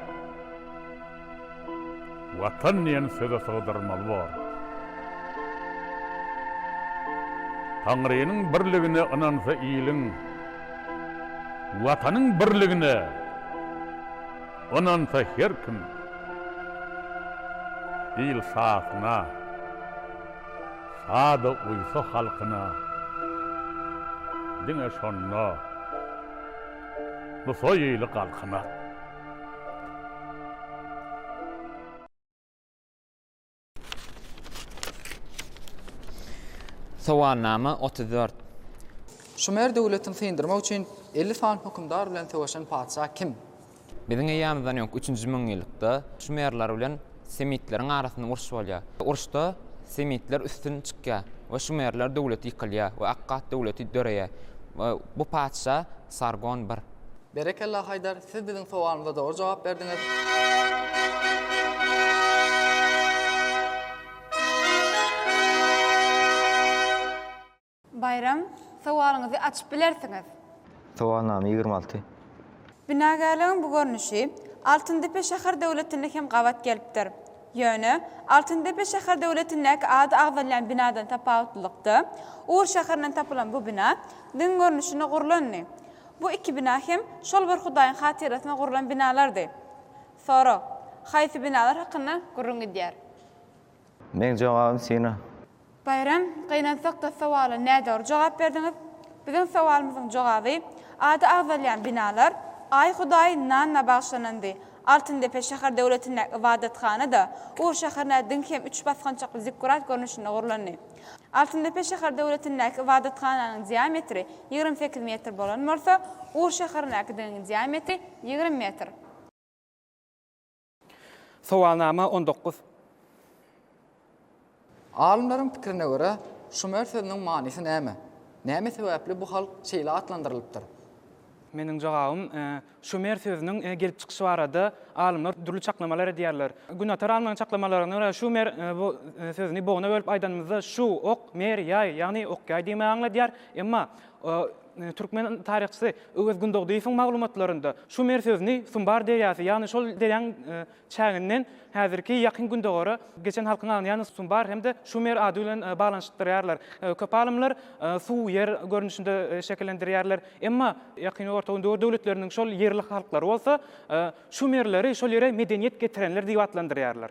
Watan diýen söze sygdyrmaly bor. Taňrynyň birligine ynansa iliň, Watanyň birligine ynansa her kim, il sahyna. Sada uýsa halkyna diňe şonda bu soý ili galkynar. Sowalnama otuz dört. Şumer döwletini syndyrmak üçin elli sany hökümdar bilen söweşen patyşa kim? Biziň eýýamyzdan öňki üçünji müňýyllykda şumerler bilen semitleriň arasynda uruş bolýar. Uruşda semitler üstün çykýar we şumerler döwleti ýykylýar we Akkat döwleti döreýär we bu patyşa Sargon I. Berekella Haýdar, siz biziň sowalymyza dogry jogap berdiňiz. Baýram, sowalyňyzy açyp bilersiňiz. Sowalnama ýigrimi alty. Binagärligiň bu görnüşi Altyndepe şäher döwletinde hem gabat gelipdir. Ýöne, Altyndepe şäher döwletindäki ady agzalýan binadan tapawutlylykda, Ugur şäherinden tapylan bu bina diň görnüşinde gurlandy. Bu iki bina hem şol bir hudaýyň hatyrasyna gurlan binalardy. Sorag, Haýsy binalar hakynda gürrüň gidýär? Meň jogabym syna. Baýram, gynansak da sowala nädogry jogap berdiňiz. Biziň sowalymyzyň jogaby, ady agzalýan binalar, Aý Hudaý Nanna bagyşlanandy. Altyndepe şäher döwletindäki ybadathana-da Ur şäherine diňki hem üç basgançakly zikkurat görnüşinde gurlandy. Altyndepe şäher döwletindäki ybadathananyň diametri ýigrimi sekiz metr bolan bolsa, Ur şäherindäkidiginiň diametri ýigrimi metr. Sowalnama on dokuz. Alymlaryň pikirine görä, şumer sözüniň manysy näme? Näme sebäpli bu halk şeýle atlandyrylypdyr? Meniň jogabym, şumer sözüniň gelip çykyşy barada alymlar dürli çaklamalar edýärler. Günatar alymlaryň çaklamalarna görä, şumer bu sözüni bogna bölüp aýdanymyzda, şu, ok, mer, ýaý, ýagny ok-ýaý diýmegi aňladýar. Emma Türkmen taryhçysy Öwez Gündogdyýewiň maglumatlarynda şu mer sözüni Sumbar derýasy, ýagny şol derýaň çäginden häzirki Ýakyn Gündogara geçen halkyň aňyny, ýagny Sumbar hem-de Şumer ady bilen baglanyşdyrýarlar. Köp alymlar suw, ýer görnüşinde şekillendirýärler. Emma Ýakyn Orta Gündogar döwletleriniň şol ýerli halklary bolsa Şumerleri şol ýere medeniýet getirenler diýip atlandyrýarlar.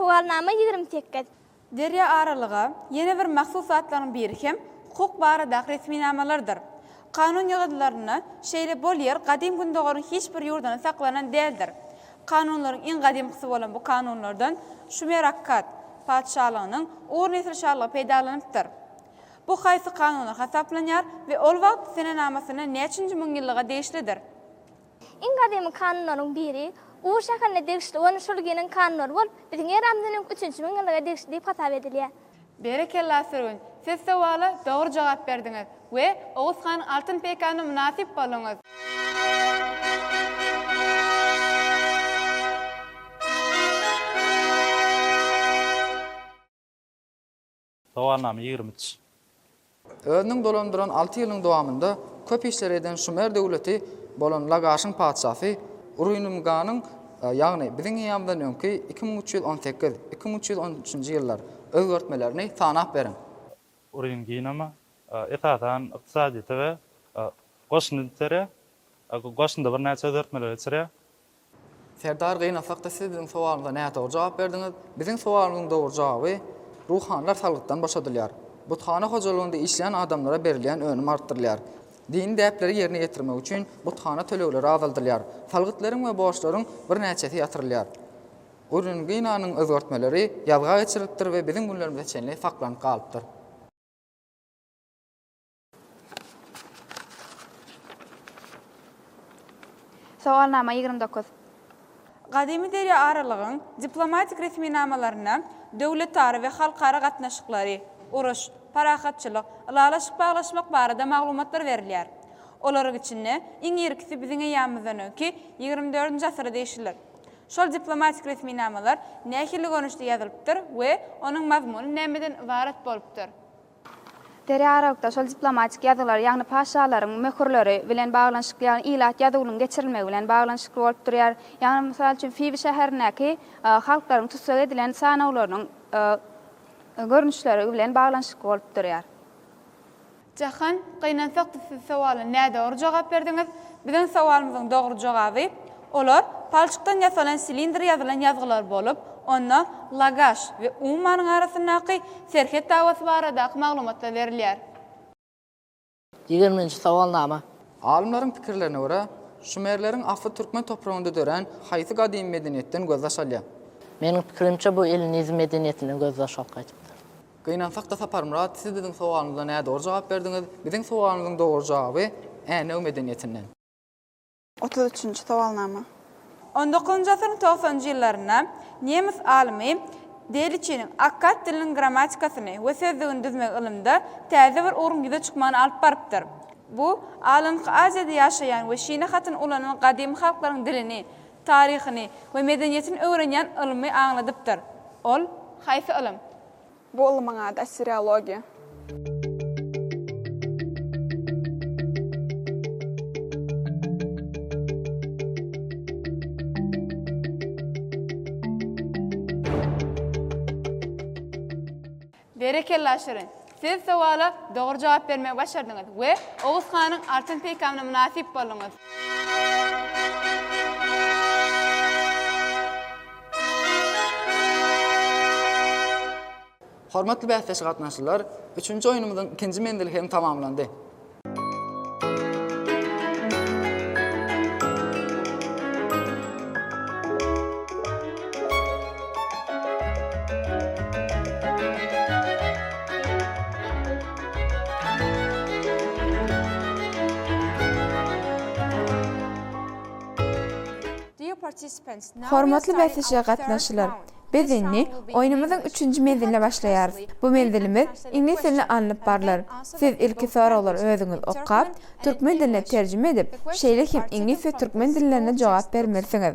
Sowalnama ýigrimi sekiz. Derýa aralyga ýene bir mahsus zatlaryň biri hem hukuk baradaky resminamalardyr. Kanun ýygyndylarynda şeýle bol ýer gadym Gündogaryň hiç bir ýurdunda saklanan däldir. Kanunlaryň iň gadymkysy bolan bu kanunlardan Şumer Akkad patyşalygynyň Ur nesil şalygy peýdalanypdyr. Bu haýsy kanunlar hasaplanýar we ol wagt senenamasynda näçenji müňýyllyga degişlidir? Iň gadymy kanunlaryň biri Ur şäherine degişli bolan Şulginiň kanunlary bolup, biziň eramyzdan öňki üçünji müňýyllyga degişli diýip hasap edilýär. Berekella sürgün! Siz sowala dogry jogap berdiňiz we Oguz han Altyn peýkana mynasyp bolduňyz. Sowalnama ýigrimi üç. Özüniň dolandyran alty ýylynyň dowamynda köp işleri eden Şumer döwleti bolan Lagaşyň patyşasy Urynymganyň, ýagny biziň eýýamyzdan öňki iki müň üç ýüz on sekiz, iki müň üç ýüz on üçünji ýyllar, özgertmelerini sanap beriň. Uryngynyma, esasan, ykdysadyýete we goşundy tere, goşunda birnäçe özgertmeler geçirýär. Serdar gynasak-da siz biziň sowalymyza nädogry jogap berdiňiz. Biziň sowalymyzyň dogry jogaby, ruhanylar salgytdan boşadylýar. Buthana hojalygynda işleýän adamlara berilýän önüm artdyrylýar. Dini däpleri ýerine ýetirmek üçin buthana tölegleri azaldylýar. Salgytlaryň we borçlaryň birnäçesi ýatyrylýar. Uringinanyň özgertmeleri ýazga geçirilipdir we biziň günlerimize çenli saklanyp galypdyr. Sowalnama ýigrimi dokuz. Gadymy derýa aralygyň diplomatik resminamalaryna döwletara we halkara gatnaşyklary, uruş, parahatçylyk, ylalaşyk baglaşmak barada maglumatlar berilýär. Olaryň içinde iň irkisi biziň eýýamymyzdan öňki ýigrimi dördünji asyra degişlidir. Şol diplomatik resminamalar nähili görnüşde ýazylypdyr we onuň mazmuny nämeden ybarat bolupdyr? Derýa aralykda şol diplomatik ýazgylar, ýagny paşalaryň möhürleri bilen baglanyşykly, ýagny ilat ýazuwynyň geçirilmegi bilen baglanyşykly bolup durýar. Ýagny, mysal üçin, Fibi şäherindäki halklaryň tussag edilen sanawlarynyň görnüşleri bilen baglanyşykly bolup durýar. Jahan, gynansak-da siz sowala nädogry jogap berdiňiz. Biziň sowalymyzyň dogry jogaby, Olar palçykdan ýasalan silindr ýazylan ýazgylar bolup, onda Lagaş we Ummanyň arasyndaky serhet dawasy baradaky maglumatlar berilýär. Ýigrimi birinji sowalnama. Alymlaryň pikirlerine görä, şumerleriň asly türkmen topragynda dörän haýsy gadymy medeniýetden gözbaş alýar? Meniň pikirimçe, bu ellinizm medeniýetinden gözbaş alyp gaýdypdyr. Gynansak-da Saparmyrat, siz biziň sowalymyza nädogry jogap berdiňiz. Biziň sowalymyzyň dogry jogaby Änew medeniýetinden. Otuz üçünji sowalnama. On dokuzynjy asyryň togsanjy ýyllarynda nemes alymy Deliçiniň akkad diliniň grammatikasyny we sözlügini düzmek ylymda täze bir ugruň ýüze çykmagyna alyp barypdyr. Bu, Alanky Aziýada ýaşaýan we şine hatyny ulanan gadymy halklaryň dilini, taryhyny we medeniýetini öwrenýän ylymy aňladypdyr. Ol. Haýsy ylym? Bu ylmyň ady assiriologiýa. Berekella Şirin. Siz sowala dogry jogap bermegi başardyňyz we Oguz hanyň altyn peýkamyna mynasyp bolduňyz. Hormatly bäsdeş gatnaşyjylar, üçünji oýnumyzyň ikinji menzili hem tamamlandy. Hormatly bäsleşige gatnaşyjylar! Biz indi oýnumyzyň üçünji menziline başlaýarys. Bu menzilimiz iňlis dilinde alnyp barlar. Siz ilki soraglary özüňiz okap, türkmen diline terjime edip, şeýle hem iňlis we türkmen dillerinde jogap bermelisiňiz.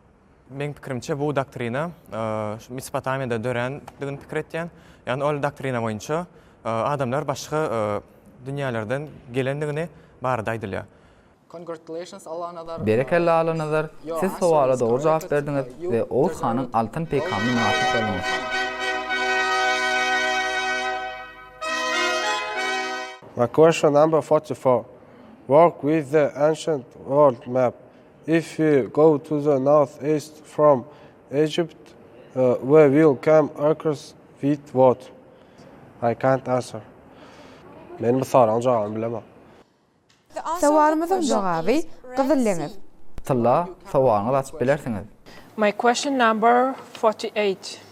Meň pikirimçe bu doktrina şu Mesopotamiýada dörändigini pikir etýän. Ýagny ol doktrina boýunça adamlar başga dünýälerden gelendigini barada aýdylýar. Congratulations Allanazar. Berekella Allanazar, siz sowala dogry jogap berdiňiz we Oguz hanyň altyn peýkamyna mynasyp bolduňyz. My question number forty four, Work with the ancient world map. If we go to the north east from Egypt we will come across with what? I can't answer. Men bu soragyň jogabyny bilemok. Sowalymyzyň jogaby, Gyzyl deňiz. Tylla, sowalyňyzy açyp bilersiňiz. My question number forty eight.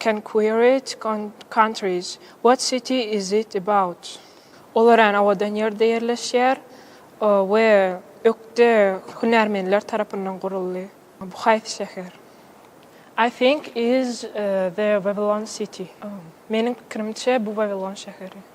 Can query it countries, what city is it about? Olar än awadan ýerde ýerleşýär we ökde hünärmenler tarapyndan guruldy. Bu haýsy şäher? I think is the Wawilon city, meniň pikirimçe bu Wawilon şäheri.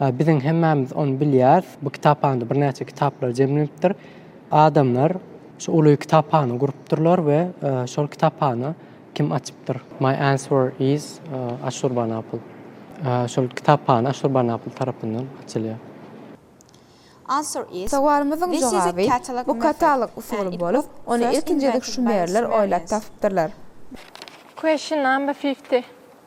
Biziň hemmämiz ony bilýäris. Bu kitaphana birnäçe kitaplar jemlenipdir. Adamlar şu uly kitaphana gurupdyrlar we şol kitaphana kim açypdyr? My answer is Assurbanapl. Şol kitaphana Assurbanapl tarapyndan açylýar. Sowalymyzyň jogaby, bu katalog usuly bolup, ony ilkinji gezek şumerler oýlap tapypdyrlar. Question number fifty.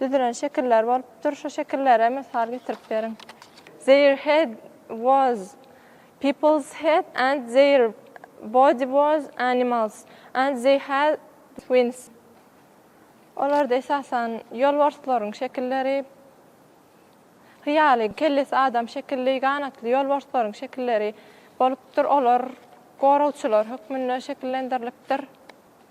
Düzülen şekiller bolupdyr. Şu şekillere mysal getirip beriň. Their head was people's head and their body was animals and they had wings. Olarda esasan ýolbarslaryň şekilleri, hyýaly, kellesi adam şekilli, ganatly ýolbarslaryň şekilleri bolupdyr. Olar goragçylar hökmünde şekillendirilipdir.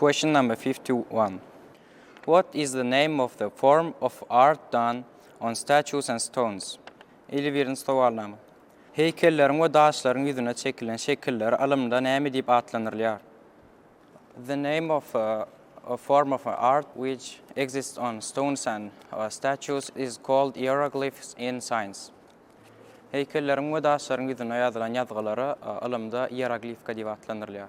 Question number fifty one. What is the name of the form of art done on statues and stones? Elli birinji sowalnama. Heýkelleriň we daşlaryň ýüzüne çekilen şekiller alymda näme diýip atlandyrylýar? The name of a form of art which exists on stones and statues is called ieroglyphs in science. Heýkelleriň we daşlaryň ýüzüne ýazylan ýazgylara alymda ieroglifika diýip atlandyrylýar.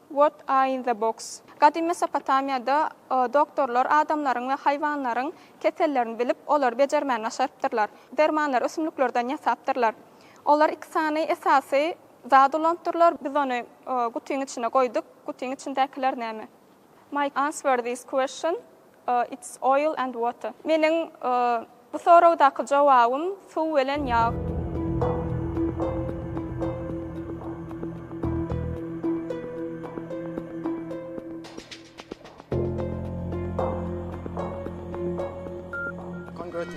What a in the box? Gadymy Mesopotamiýada doktorlar adamlaryň we haýwanlaryň kesellerini bilip, olary bejermäni başarypdyrlar. Dermanlary ösümliklerden ýasapdyrlar. Olar iki sany esasy zat ulanypdyrlar. Biz ony gutyň içine goýduk. Gutyň içindäkiler näme? Mike answer this question. It's oil and water. Meniň bu soragdaky jowabym suw bilen ýag.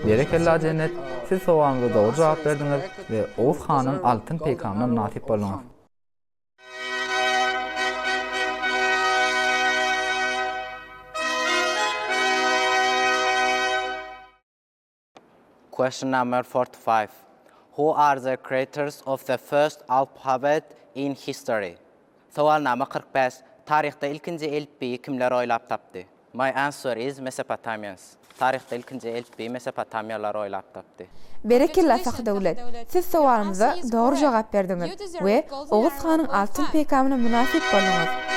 Berekella Jennet, siz sowalymyza dogry jogap berdiňiz we Oguz hanyň altyn peýkamyna mynasyp bolduňyz. Question number forty five. Who are the creators of the first alphabet in history? Sowalnama kyrk bäş. Taryhda ilkinji elipbiýi kimler oýlap tapdy? My answer is Mesopotamians. Taryhda ilkinji elipbiýi Mesopotamiýalylar oýlap tapdy. Berekella Sahdöwlet! Siz sowalymyza dogry jogap berdiňiz we Oguz hanyň altyn peýkamyna mynasyp bolduňyz.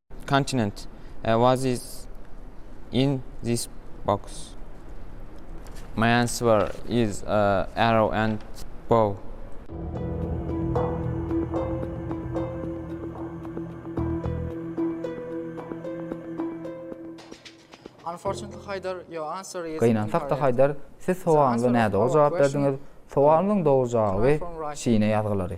Continent. What is in this box? My answer is a arrow and bow. Unfortunately Haýdar, your answer is incorrect. Gynansak-da Haýdar, siz sowalyňyza nädogry jogap berdiňiz. Sowalymyzyň dogry jogaby Şine ýazgylary.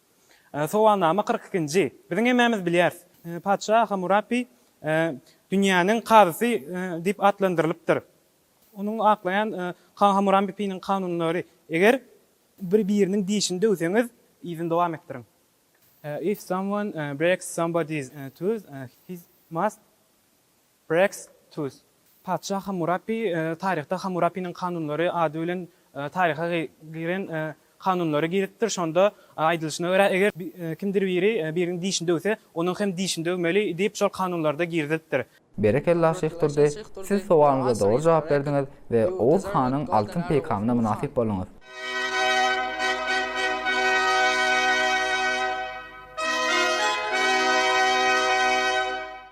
Sowalnama kyrk ikinji. Biziň hemmämiz bilýäris. Patyşa Hamurapi dünýäniň kazysy diýip atlandyrylypdyr. Onuň aklaýan Hamuramipiniň kanunlary, Eger bir-biriniň dişini döwseňiz, yzyny dowam etdiriň. If someone breaks somebody's tooth, he must Breaks Tooth. Patyşa Hammurapi taryhda Hammurapiniň kanunlary ady bilen taryha giren kanunlary girizipdir. Şonda aýdylyşyna görä, eger kimdir biri biriniň dişini döwse, onuň hem dişini döwmeli diýip şol kanunlarda girizilipdir. Berekella Şyh Durdy, siz sowalyňyza dogry jogap berdiňiz we Oguz hanyň altyn peýkamyna mynasyp bolduňyz.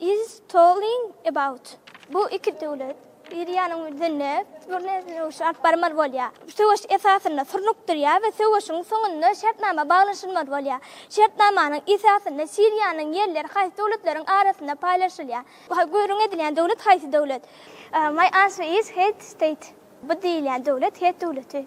Is talking about bu iki döwlet biri ýanyň birinde gurne söweş alyp barmaly bolýar. Söweş esasynda surnuk durýar we söweşiň soňunda şertnama baglanşylmaly bolýar. Şertnamanyň esasynda Siriýanyň ýerleri haýsy döwletleriň arasynda paýlaşylýar? Bu gürrüň edilýän döwlet haýsy döwlet? My answer is het state bu diýilýän döwlet het döwleti.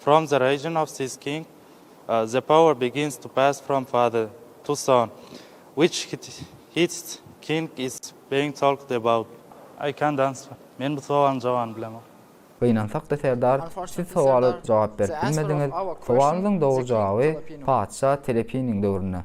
From the region of this king, the power begins to pass from father to son, which hits king is being talked about. I can't answer. Men bu sowalyň jogabyny bilemok. Gynansakda serdar, siz sowala jogap berip bilmediňiz, sowalyňyzyň dogry jogaby patyşa Telepiniň döwründe.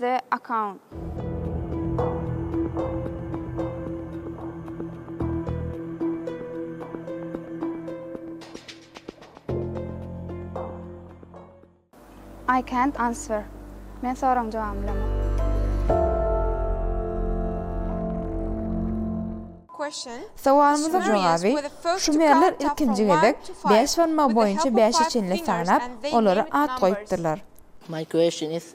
The account. I can't answer. Men soragyň jogabyny bilemok. Question. Sowalymyzyň jogaby, Şumerler ilkinji gezek bäş barmagy boýunça bäşe çenli sanap, olara at goýupdyrlar. My question is,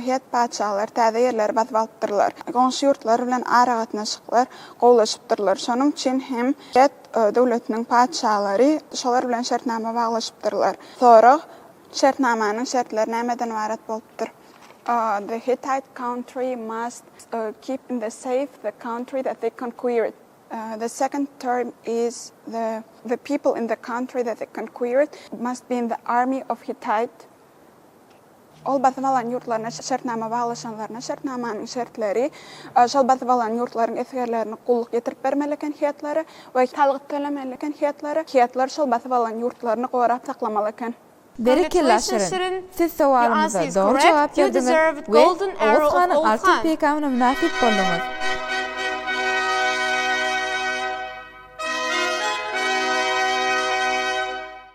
Het patyşalar täze ýerleri basyp alypdyrlar. Goňşy ýurtlar bilen aragatnaşyklar gowulaşypdyrlar. Şonuň üçin hem Het döwletiniň patyşalary şolar bilen şertnama baglaşypdyrlar. Sorag, Şertnamanyň şertleri nämeden ybarat bolupdyr? The Hittite country must keep in the safe the country that they conquered. The second term is the the people in the country that they conquered must be in the army of Hittite. Ol basyp alan ýurtlaryna şertnama baglaşanlaryna şertnamanyň şertleri, şol basyp alan ýurtlaryň esgerlerini gulluk ýetirip bermeli eken hyýatlary we salgyt tölemeli eken hyýatlary, hyýatlar şol basyp alan ýurtlaryny gorap saklamaly eken. Berekella Şirin! Siz sowalymyza dogry jogap berdiňiz we Oguz hanyň altyn peýkamyna mynasyp bolduňyz.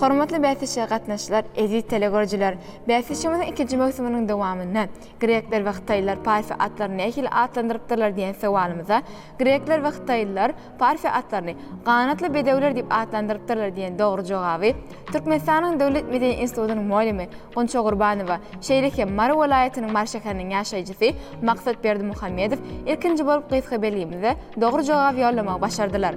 Hormatly bäsleşige gatnaşyjylar, eziz telegörüjiler! Bäsleşigimiziň ikinji möwsüminiň dowamynda Grekler we hytaýlylar Parfiýa atlaryny nähili atlandyrypdyrlar diýen sowalymyza Grekler we hytaýlylar Parfiýa atlaryny Ganatly bedewler diýip atlandyrypdyrlar diýen dogry jogaby Türkmenistanyň Döwlet medeni institutynyň molimi Gunça Gurbanowa şeýle hem Mary welaýatynyň Mary şäheriniň ýaşaýjysy Maksat Berdimuhamedow ilkinji bolup gysga belgimize dogry jogap ýollamagy başardylar.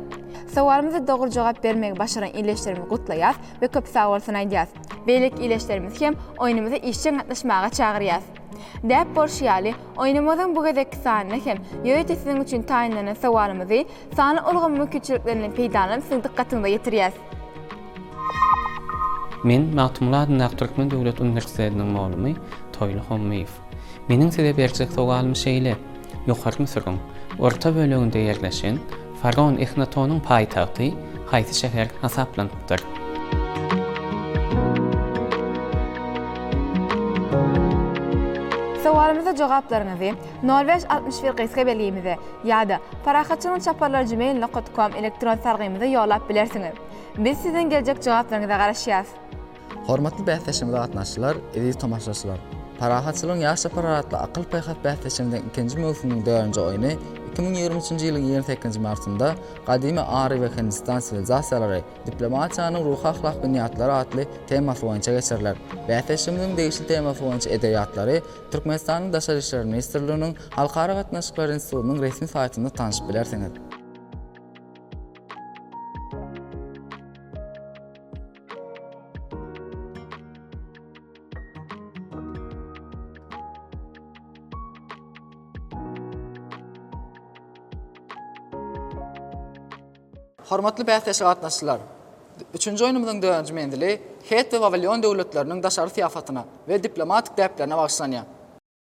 Sowalymyza dogry jogap bermegi başaran ildeşlerimizi gutlaýas we köp sag bolsun aýdýas. Beýleki ildeşlerimizi hem oýnumyza işjeň gatnaşmaga çagyrýas. Däp bolşy ýaly, oýnumyzyň bu gezekki sanynda hem ýörite siziň üçin taýynlanan sowalymyzy sanly ulgam mümkinçiliklerinden peýdalanyp siziň dykgatyňyza ýetirýäs. Men Magtymguly adyndaky Türkmen döwlet uniwersitetiniň muglumy Toýly Hommyýew. Meniň size berjek sogalym şeýle, Ýokary Müsüriň orta böleginde ýerleşen faraon Ehnatonyň paýtagty haýsy şäher hasaplanypdyr? Sowalymyza jogaplaryňyzy nol bäş altmyş bir gysga belgimize ýa-da Parahatçynyň çaparlary gmail nokat kom elektron salgymyza ýollap bilersiňiz. Biz siziň geljek jogaplaryňyza garaşýas. Hormatly bäsleşige gatnaşyjylar, eziz tomaşaçylar! Parahatçylygyň ýaşja pyragy atly akyl-paýhas bäsleşiginiň ikinji möwsüminiň dördünji oýny iki müň ýigrimi üçünji ýylyň ýigrimi sekizinji martynda Gadymy Ary we Hindistan siwilizasiýalary, diplomatiýanyň ruhy-ahlak binýatlary atly temasy boýunça geçiriler. Bäsleşigimiziň degişli temasy boýunça edebiýatlary Türkmenistanyň Daşary işler ministrliginiň Halkara gatnaşyklary institutynyň resmi saýtynda tanyşyp bilersiňiz. Hormatly bäsleşige gatnaşyjylar! Üçünji oýnumyzyň dördünji menzili Het we Wawilion döwletleriniň daşary syýasatyna we diplomatik däplerine bagyşlanýar.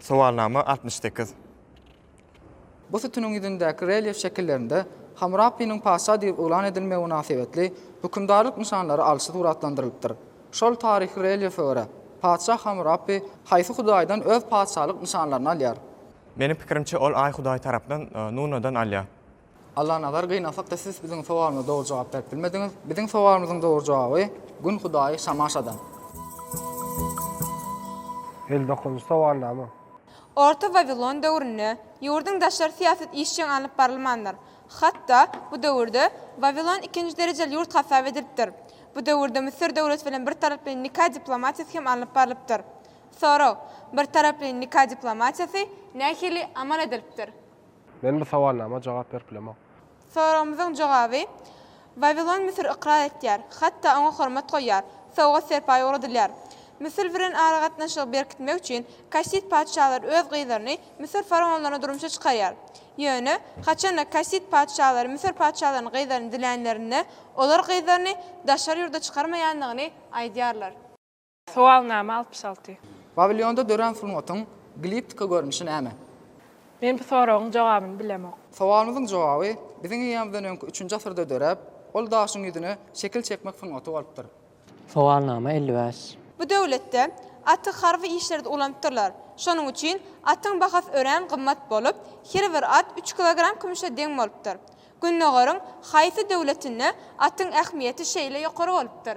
Sowalnama altmyş sekiz. Bu sütüniň ýüzündäki relýef şekillerinde Hammurapiniň patyşa diýip yglan edilmegi mynasybetli hökümdarlyk nyşanlary alşy suratlandyrylypdyr. Şol taryhy relýefe görä, patyşa Hammurapi haýsy hudaýdan öz patyşalyk nyşanlaryny alýar? Meniň pikirimçe, ol Aý hudaýy tarapyndan Nunadan alýar. Allanazar gynasak-da siz biziň sowalymyza dogry jogap berip bilmediňiz. Biziň sowalymyzyň dogry jogaby Gün hudaýy Şamaşadan. El dokunjy sowalnama. Orta Wawilon döwründe ýurduň daşary syýasaty işjeň alnyp barylmandyr. Hat-da, bu döwürde Wawilon ikinji derejeli ýurt hasap edilipdir. Bu döwürde Müsür döwleti bilen bir taraply nika diplomatiýasy hem alnyp barlypdyr. Sorag, Bir taraply nika diplomatiýasy nähili amal edilipdir? Men bu sowalnama jogap berip bilemok. Soragymyzyň jogaby, Wawilon Müsür ykrar etýär, hatda oňa hormat goýýar, sowgat-serpaý ugradylýar. Müsür bilen aragatnaşygy berkitmek üçin kassid patyşalary öz gyzlaryny Müsür faraonlaryna durmuşa çykarýar. Ýöne, haçanda kassid patyşalary Müsür patyşalarynyň gyzlaryny dilänlerinde, olar gyzlaryny daşary ýurda çykarmaýandygyny aýdýarlar. Sowalnama altmyş alty. Pawilýonda dörän sungatyň gliptika görnüşi näme? Men bu soragyň jogabyny bilemok. Sowalymyzyň jogaby biziň eýýamyzdan öňki üçünji asyrda döräp, ol daşyň ýüzüne şekil çekmek sungaty bolupdyr. Sowalnama elli bäş. Bu döwletde aty harby işlerde ulanypdyrlar. Şonuň üçin atyň bahasy örän gymmat bolup, her bir at üç kilogram kümüşe deň bolupdyr. Gündogaryň haýsy döwletinde atyň ähmiýeti şeýle ýokary bolupdyr?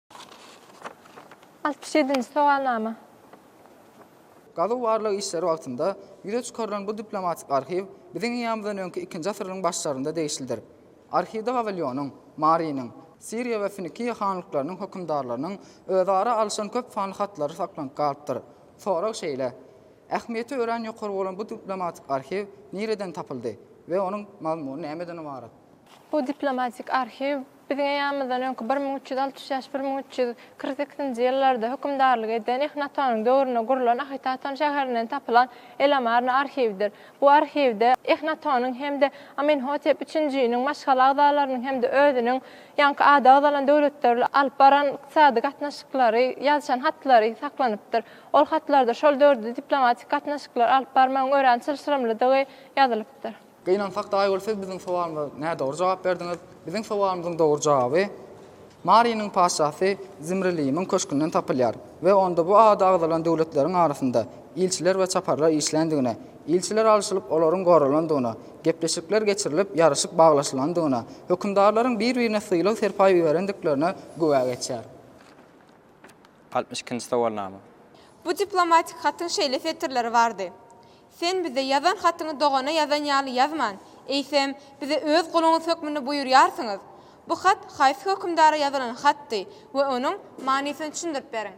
Altmyş ýedinji sowalnama. Gazuw-barlag işleri wagtynda ýüze çykarylan bu diplomatik arhiw biziň eýamyzdan öňki ikinji asyryň başlarynda degişlidir. Arhiwde Wawilionyň, Marynyň, Siriýa we Finikiýa hanlyklarynyň hökümdarlarynyň özara alyşan köp sanly hatlary saklanyp galypdyr. Sorag şeýle, Ähmiýeti örän ýokary bolan bu diplomatik arhiw nireden tapyldy we onuň mazmuny nämeden ybarat? Bu diplomatik arhiw Biziň eýýamymyzdan öňki bir müň üç ýüz altmyş bäş, bir müň üç ýüz kyrk sekizinji ýyllarda hökümdarlyk eden Ehnatonyň döwründe gurlan Ahitaton şäherinden tapylan El-Amarna arhiwidir. Bu arhiwde Ehnatonyň hem-de Amenhotep üçünjiniň maşgala agzalarynyň hem-de özüniň ýaňky ady agzalan döwletler bilen alyp baran ykdysady gatnaşyklary, ýazyşan hatlary saklanypdyr. Ol hatlarda şol döwürde diplomatik gatnaşyklary alyp barmagyň örän çylşyrymlydygy ýazylypdyr. Gynansak-da, Aýgül, siz biziň sowalymyza nädogry jogap berdiňiz. Biziň sowalymyzyň dogry jogaby Marynyň patyşasy Zimriliýimiň köşgünden tapylýar we onda bu ady agzalan döwletleriň arasynda ilçiler we çaparlar işländigine, ilçiler alşylyp, olaryň goralandygyna, gepleşikler geçirilip, ýaryşyk baglaşylandygyna, hökümdarlaryň bir-birine sylag-serpaý iberendiklerine güwä geçýär. Altmyş ikinji sowalnama. Bu diplomatik hatyň şeýle setirleri bardy. Sen bize ýazan hatyňy dogana ýazan ýaly ýazman, eýsem, bize öz guluňyz hökmünde buýurýarsyňyz. Bu hat haýsy hökümdara ýazylan hatdy we onuň manysyny düşündirip beriň.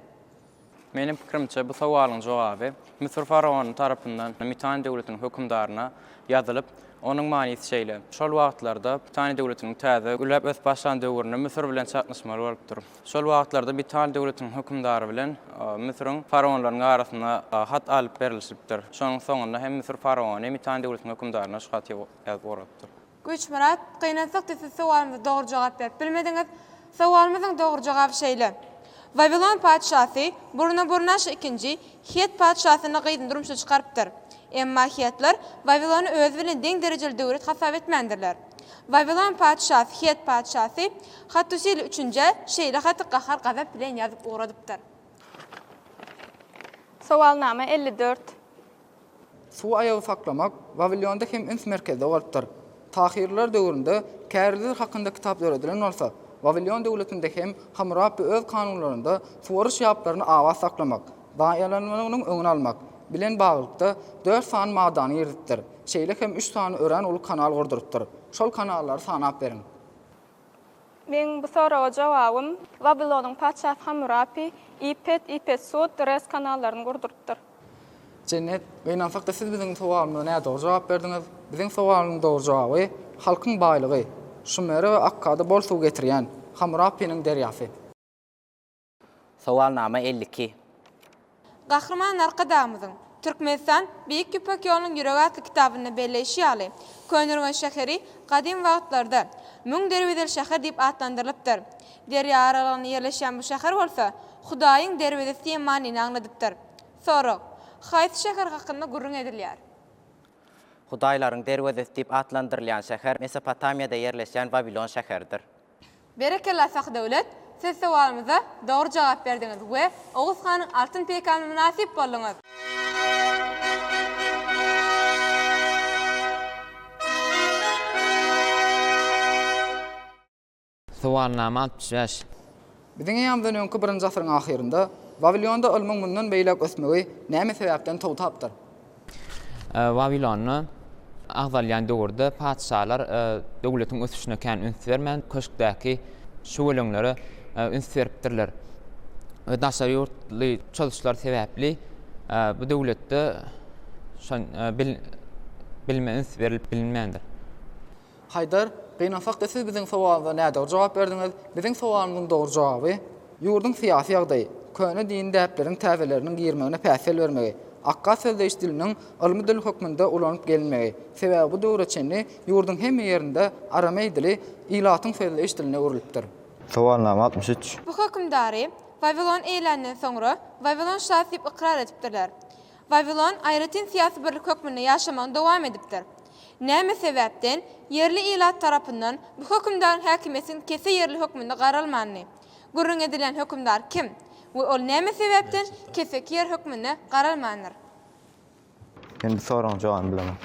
Meniň pikirimçe, bu sowalyň jogaby Müsür faraony tarapyndan Mitany döwletiniň hökümdaryna ýazylyp, onuň manysy şeýle, Şol wagtlarda Mitany döwletiniň täze gülläp ösüp başlan döwründe Müsür bilen çaknyşmaly bolupdyr. Şol wagtlarda Bital döwletiniň hökümdary bilen Müsüriň faraonlarynyň arasynda hat alyp berilişipdir. Şonuň soňunda hem Müsür faraony Mitan döwletiniň hökümdaryna şu haty ýazyp ugradypdyr. Güýçmyrat, Gynansakda siz sowalymyza dogry jogap berip bilmediňiz. Sowalymyzyň dogry jogaby şeýle. Wawilon patyşasy Burnaburnaşr ikinji Hett patyşasynyň gyzyny durmuşa çykarypdyr. Emma Hettler Wawilony özi bilen deň derejeli döwlet hasap etmändirler. Wawilon patyşasy, het patyşasy Hattusil üçünje şeýle haty gahar-gazap bilen ýazyp ugradypdyr. Sowalnama elli dört. Suw aýagy saklamak Wawilonda hem üns merkezde bolupdyr. Tahyrylar döwründe kärizler hakynda kitap döredilen bolsa, Wawilon döwletinde hem Hamurapi öz kanunlarynda suwaryş ýaplaryny abat saklamak, zaýalanmanynyň öňüni almak, bilen baglylykda, dört sany maddany girizipdir, şeýle hem üç sany örän uly kanal gurdurypdyr. Şol kanallary sanap beriň. Meň bu soraga jogabym, Wawilonyň patyşasy Hammurapi, Ipet, Ipet Sud, Res kanallaryny gurdurypdyr. Jennet, gynansak-da siz biziň sowalymyza nädogry jogap berdiňiz. Biziň sowalynyň dogry jogaby, halkyň baýlygy, Şumere we Akkada bol suw getirýän, Hammurapiniň derýasy. Sowalnama elli iki. Gahryman Arkadagymyzyň Türkmenistan, Beýik Ýüpek ýolunyň ýüregi atly kitabynda belleýşi ýaly, Köneürgenç şäheri gadym wagtlarda Müň derwezeli şäher diýip atlandyrylypdyr. Derýa aralygynda ýerleşýän bu şäher bolsa Hudaýyň derwezesi diýen manyny aňladypdyr. Sorag, Haýsy şäher hakynda gürrüň edilýär? Hudaýlaryň derwezesi diýip atlandyrylýan şäher Mesopotamiýada ýerleşýän Wawilon şäheridir. Berekella Sahydöwlet, siz sowalymyza dogry jogap berdiňiz we Oguz hanyň altyn peýkamyna mynasyp bolduňyz. Sowalnama altmyş bäş. Biziň eýýamyzdan öňki birinji asyryň ahyrynda Wawilonda ylmyň mundan beýläk ösmegi näme sebäpden togtapdyr? Wawilonda agzalýan döwürde patyşalar döwletiň ösüşine kän üns bermän, köşkdäki şüweleňlere üns beripdirler we daşary ýurtly çozuşlar sebäpli bu döwletde şo bilime üns berilip bilinmändir. Haýdar, gynansak-da siz biziň sowalymyza nädogry jogap berdiňiz, biziň sowalymyzyň dogry jogaby, ýurduň syýasy ýagdaýy, köne dini däpleriň täzeleriniň girmegine päsgel bermegi, akga sözleýiş diliniň ylmy dil hökmünde ulanyp gelinmegi, sebäbi bu döwre çenli ýurduň hemme ýerinde arameý dili ilatyň sözleýiş diline öwrülipdir. Sowalnama altmyş üç. Bu hökümdary Wawilon eýländen soňra Wawilon şasy diýip ykrar edipdirler. Wawilon aýratyn syýasy birlik hökmünde ýaşamagyny dowam edipdir. Näme sebäpden ýerli ilat tarapyndan bu hökümdaryň häkimiýetiň kese ýerli hökmünde garalmandyny? Gürrüň edilýän hökümdar kim we ol näme sebäpden keseki ýer hökmünde garalmandyr? Men bu soragyň jogabyny bilemok.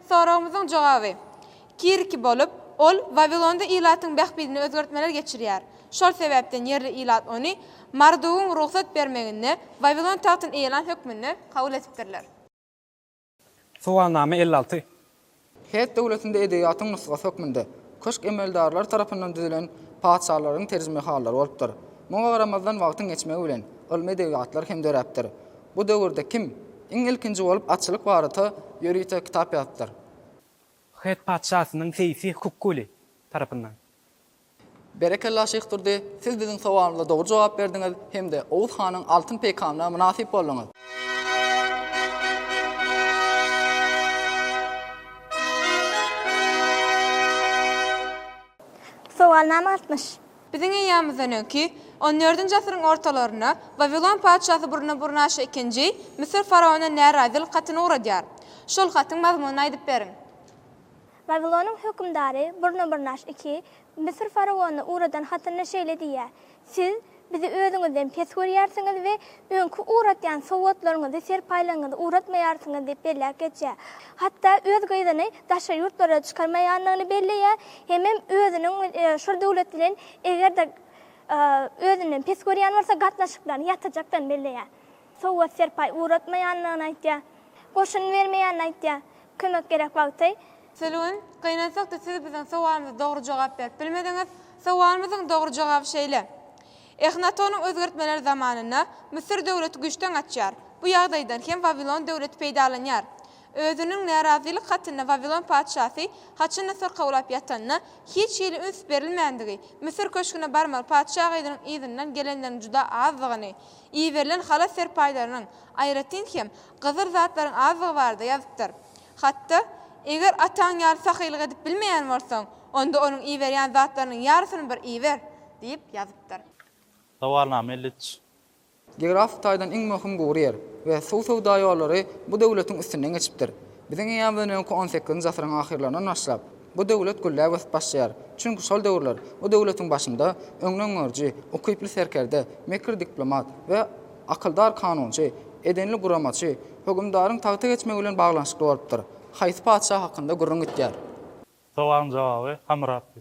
Soragymyzyň jogaby, Kiriki bolup, ol Wawilonda ilatyň bähbidine özgertmeler geçirýär. Şol sebäpden ýerli ilat ony Mardugyň rugsat bermeginde Wawilon tagtyny eýelan hökmünde kabul edipdirler. Sowalnama elli alty. Hett döwletinde edebiýatyň nusgasy hökmünde köşk emeldarlary tarapyndan düzülen patyşalaryň terjimehallary bolupdyr. Muňa garamazdan wagtyň geçmegi bilen ylmy edebiýatlar hem döräpdir. Bu döwürde kim iň ilkinji bolup atçylyk barata ýörite kitap ýazypdyr? Hett patyşasynyň seýsi Kukuli tarapyndan. Berekella Şyh Durdy, siz biziň sowalymyza dogry jogap berdiňiz hem-de Oguz hanyň altyn peýkamyna mynasyp bolduňyz. Sowalnama altmyş. Biziň eýýamymyzdan öňki, on dördünji asyryň ortalarynda, Wawilon patyşasy Burnaburnaşa ikinji, Müsür faraonyna närazylyk hatyny ugradýar. Şol hatyň mazmunyny aýdyp beriň. Wawilonyň hökümdary Burnabyrnaş ii Müsür faraonyna ugradan hatynda şeýle diýýär, Siz bizi özüňizden pes görýärsiňiz we öňki ugratýan sowgatlaryňyzy, serpaýlaryňyzy ugratmaýarsyňyz diýip belläp geçýär. Hatda öz gyzyny daşary ýurtlara çykarmaýandygyny belleýär hemem özüniň şol döwlet bilen eger-de özünden pes görýän bolsa gatnaşyklaryny ýatyrjakdygyny belleýär. Sowgat-serpaý ugratmaýandygyny aýtýar. Goşun bermeýänini aýtýar. Kömek gerek wagty. Sülgün, Gynansak-da siz biziň sowalymyza dogry jogap berip bilmediňiz. Sowalymyzyň dogry jogaby şeýle. Ehnatonyň özgertmeleri zamanynda Müsür döwleti güýçden gaçýar. Bu ýagdaýdan hem Wawilon döwleti peýdalanýar. Özüniň närazylyk hatynda Wawilon patyşasy haçanda syrkawlap ýatanyna hiç hili üns berilmändigi, Müsür köşgüne barmaly patyşa gyzynyň yzyndan gelenleriň juda azdygyny, Iberilen halat serpaýlarynyň, aýratyn hem, gyzyl zatlaryň azdygy barada ýazypdyr. Hatda, Eger ataň ýaly sahylyk edip bilmeýän bolsaň, onda onuň iberýän zatlarynyň ýarysyny bir iber! diýip ýazypdyr. Sowalnama elli üç. Geografik taýdan iň möhüm gury ýer we suw söwda ýollary bu döwletiň üstünden geçipdir. Biziň eýýamyzdan öňki on sekizinji asyryň ahyrlaryndan başlap, Bu döwlet gülläp ösüp başlaýar. Çünki şol döwürler bu döwletiň başynda öňdengörüji, ukyply serkerde, mekir diplomat we akyldar kanunçy, edenli guramaçy, hökümdaryň tagta geçmegi bilen baglanyşykly bolupdyr. Haýsy patyşa hakynda gürrüň gitýär? Sowalyň jogaby Hammuratdy.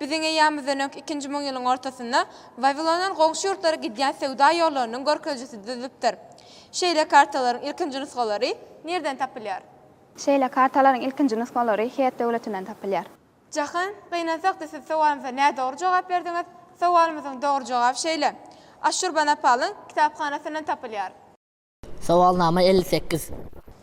Biziň eýýamyzdan öňki ikinji müňýylyň ortasynda Wawilondan goňşy ýurtlara gidýän söwda ýollarynyň görkezijisi düzülipdir. Şeýle kartalaryň ilkinji nusgalary nirden tapylýar? Şeýle kartalaryň ilkinji nusgalary Het döwletinden tapylýar. Jahan, gynansakda siz sowalymyza nädogry jogap berdiňiz. Sowalymyzyň dogry jogaby şeýle. Assurbanapalyn kitaphanasyndan tapylýar. Sowalnama elli sekiz.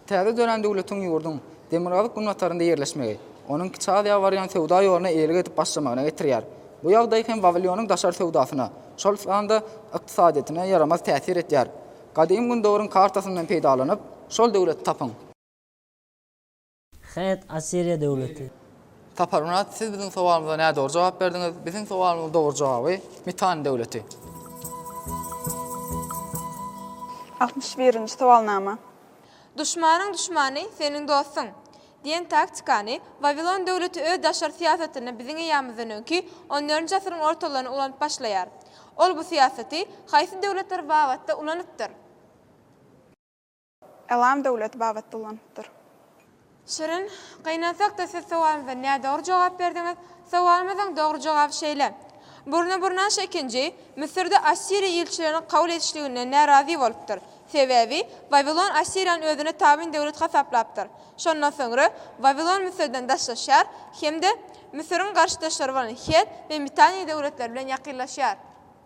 Täze dörän döwletiň ýurduň demirgazyk-günbatarynda ýerleşmegi, onuň Kiçi Aziýa barýan söwda ýoluna eýelik edip başlamagyna getirýär. Bu ýagdaý hem Wawilionyň daşary söwdasyna, şol sanda ykdysadyýetine ýaramaz täsir edýär. Gadym Gündogaryň kartasyndan peýdalanyp, şol döwleti tapyň. Hät, Assiriýa döwleti. Saparmyrat, siz biziň sowalymyza nädogry jogap berdiňiz. Biziň sowalymyzyň dogry jogaby, Mitann döwleti. Altmyş birinji sowalnama. Duşmanyň duşmany, seniň dostuň! diýen taktikany Wawilon döwleti öz daşary syýasatynda biziň eýýamymyzdan öňki on dördünji asyryň ortalaryna ulanyp başlaýar. Ol bu syýasaty haýsy döwletler babatda ulanypdyr? Elam döwleti babatda ulanypdyr. Şirin, Gynansak-da siz sowalymyza nädogry jogap berdiňiz. Sowalymyzyň dogry jogaby şeýle. Burnaburnanş ikinji, Müsürde Assiriýa ilçilerini kabul edişliginden närazy bolupdyr. Sebäbi, Wawilon Assiriýany özüne tabyn döwlet hasaplapdyr. Şondan soňra Wawilon Müsürden daşlaşýar hem-de Müsüriň garşydaşlary bolan Het we Mitaniýa döwletleri bilen ýakynlaşýar.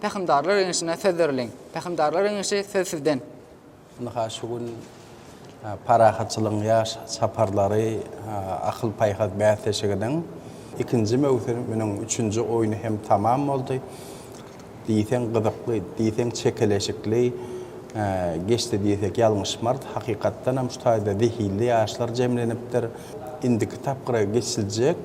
Pähimdarlar iňişine söz beriliň. Pähimdarlar iňişi söz sizden. Ynha şu gün Parahatçylygyň ýaş çaparlary akyl-paýhas bäsleşiginiň ikinji möwsüminiň üçünji oýny hem tamam boldy. Diýseň gyzykly, diýseň çekeleşikli Geçdi diýsek ýalňyşmarys. Hakykatdanam şu taýda zehinli ýaşlar jemlenipdir. Indiki tapgyra geçiljek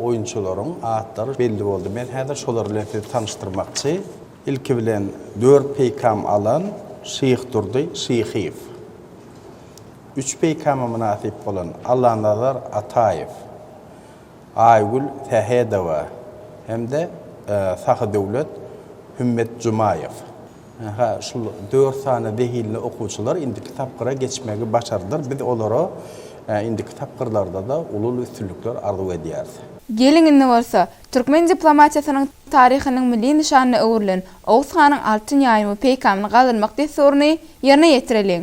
oýunçylaryň atlary belli boldy. Men häzir şolar bilen sizi tanyşdyrmakçy. Ilki bilen dört peýkam alan Şyhdurdy Şyhyýew. Üç peýkama mynasyp bolan Allanazar Ataýew, Aýgül Sähedowa hem-de Sahydöwlet Hümmetjumaýew. Hä, şul dört sany zehinli okuwçylar indiki tapgyra geçmegi başardylar. Biz olara indiki tapgyrlarda-da uly-uly üstünlikler arzuw edýäris. Geliň indi bolsa, türkmen diplomatiýasynyň taryhynyň milli nyşanyna öwrülen Oguz hanyň altyn ýaýyny we peýkamyny galdyrmak dessuryny ýerine ýetireliň.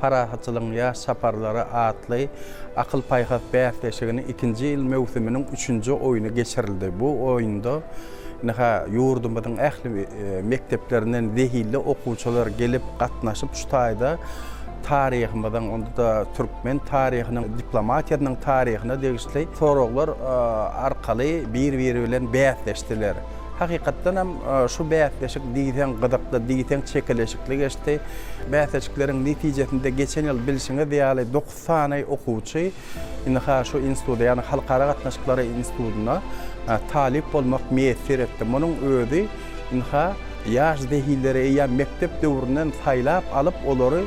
Parahatçylygyň ýaş çaparlary atly akyl-paýhas bäsleşiginiň ikinji ýyl möwsüminiň üçünji oýny geçirildi. Bu oýunda ynha, ýurdumyzyň ähli mekdeplerinden zehinli okuwçylar gelip gatnaşyp, şu taýda taryhymyzyň, onda-da türkmen taryhynyň, diplomatiýanyň taryhyna degişli soraglar arkaly bir-biri bilen bäsleşdiler. Hakykatdan hem şu bäsleşik diýseň gyzykly, diýseň çekeleşikli geçdi. Bäsleşikleriň netijesinde geçen ýyl bilşiňiz ýaly dokuz sany okuwçy ynha şu instituda, ýagny Halkara gatnaşyklary institutyna talyp bolmak miýesser etdi. Munuň özi ynha ýaş zehinleri eýýäm mekdep döwründen saýlap alyp, olary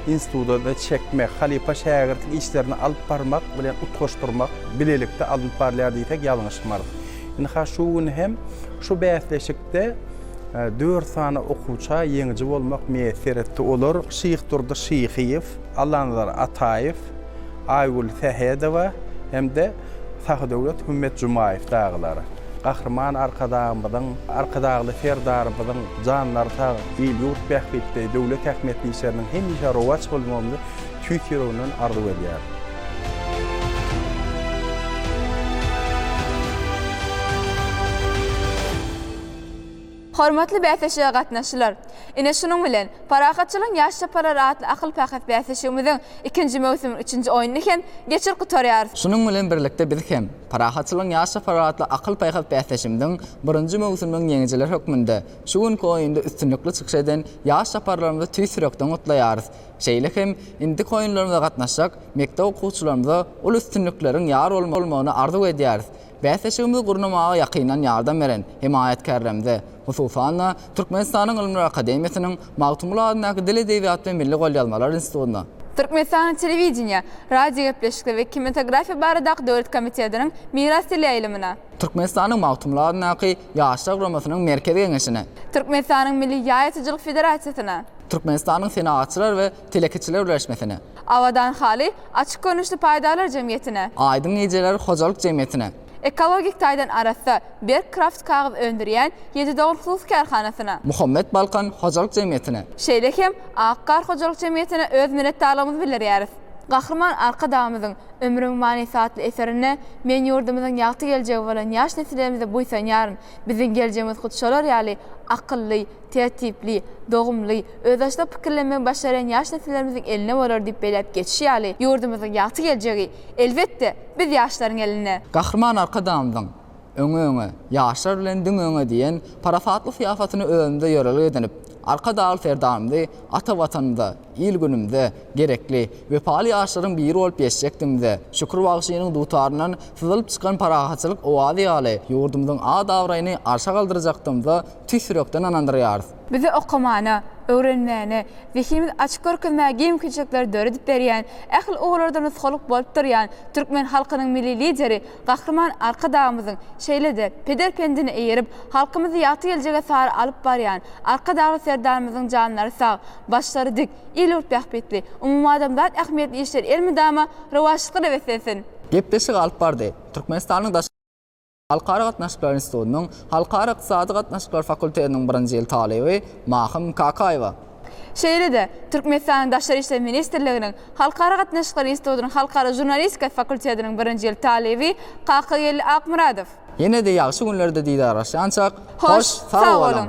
instituta çekmek, halypa-şägirtlik işlerini alyp barmak bilen utgaşdyrmak bilelikde alnyp barylýar diýsek ýalňyşmarys. Ynha şu gün hem şu bäsleşikde dört sany okuwça ýeňiji bolmak miýesser etdi. Olar Şyhdurdy Şyhyýew, Allanazar Ataýew, Aýgül Sähedowa hem-de Sahydöwlet Hümmetjumaýew dagylar. Gahryman Arkadagymyzyň, Arkadagly Serdarymyzyň janlary sag, il-ýurt bähbitli, döwlet ähmiýetli işleriniň hemişe rowaç bolmagyny tüýs ýüregimden arzuw edýärin. Hormatly bäsleşige gatnaşyjylar! Ine şunuň bilen, Parahatçylygyň ýaş çaparlary atly akyl-pakat bäsleşigimiziň ikinji möwsümiň üçünji oýnuny hem geçirip gutarýarys. Şunuň bilen birlikde biz hem, Parahatçylygyň ýaş çaparlary atly akyl-paýhas bäsleşigimiziň birinji möwsüminiň ýeňijileri hökmünde şu günki oýunda üstünlikli çykyş eden ýaş çaparlarymyzy tüýs ýürekden gutlaýarys. Şeýle hem indiki oýunlarymyza gatnaşjak mekdep okuwçylarymyza uly üstünlikleriň ýar bolmagyny arzuw edýäris. Bäsleşigimizi gurnamaga ýakyndan ýardam beren hemaýatkärlerimize, hususan-da, Türkmenistanyň Ylymlar akademiýasynyň Magtymguly adyndaky Dil, edebiýat we milli golýazmalar institutyna, Türkmenistanyň Telewideniýe, radiogepleşikler we kinematografiýa baradaky döwlet komitetiniň Miras teleýaýlymyna, Türkmenistanyň Magtymguly adyndaky Ýaşlar guramasynyň Merkezi geňeşine. Türkmenistanyň Milli ýaýaçyjylyk federasiýasyna. Türkmenistanyň Senagatçylar we telekeçiler birleşmesine. Abadan haly açyk görnüşli paýdarlar jemgyýetine. Aýdyň gijeler hojalyk jemgyýetine. Ekologik taýdan arassa, berk kraft kagyz öndürýän Ýedi dogan hususy kärhanasyna. Muhammet Balkan hojalyk jemgyýetine. Şeýle hem Ak gar hojalyk jemgyýetine öz minnetdarlygymyzy bildirýäris. Gahryman Arkadagymyzyň Ömrüň manysy atly eserinde Men ýurdumyzyň ýagty geljegi bolan ýaş nesillerimize buýsanýaryn. Biziň geljegimiz hut şolar ýaly akylly, tertipli, dogumly, özbaşdak pikirlenmegi başarýan ýaş nesillerimiziň elinde bolar diýip belläp geçişi ýaly, ýurdumyzyň ýagty geljegi, elbetde, biz ýaşlaryň elinde. Gahryman Arkadagymyzyň Öňe, öňe, ýaşlar bilen diňe öňe diýen parasatly syýasatyny özümizde ýörelge edinip, Arkadagly Serdarymyzy ata Watanymyza, Il-günümde, gerekli, wepaly ýaşlaryň biri bolup ýeşjekdigimize, Şükür bagşynyň dutaryndan syzylyp çykan parahatçylyk owazy ýaly, ýurdumyzyň at-abraýyny arşa galdyrjakdygymyza tüýs ýürekden ynandyrýarys. Bize okamana, öwrenmäne, zehinimizi açyp görkezmäge mümkinçilikleri döredip berýän, ähli ugurlarda nusgalyk bolup durýan türkmen halkynyň Milli Lideri, Gahryman Arkadagymyzyň, şeýle-de, peder pendine eýerip, halkymyzy ýagty geljege sary alyp barýan Arkadagly Serdarymyzyň janlary sag, başlary dik, il-ýurt bähbitli, umumadamzat ähmiýetli işleri elmydama rowaçlykda nöbetlensin! Gepleşigi alyp bardy. Türkmenistanyň Daşary we halkara gatnaşyklary institutynyň Halkara ykdysady gatnaşyklar fakultetiniň birinji ýyl talyby Mahym Kakaýewa. Şeýle-de, Türkmenistanyň Daşary işler ministrliginiň Halkara gatnaşyklary institutynyň Halkara žurnalistika fakultetiniň birinji ýyl talyby Kakageldi Akmyradow. Ýene-de ýagşy günlerde didarlaşýançak, hoş sag boluň!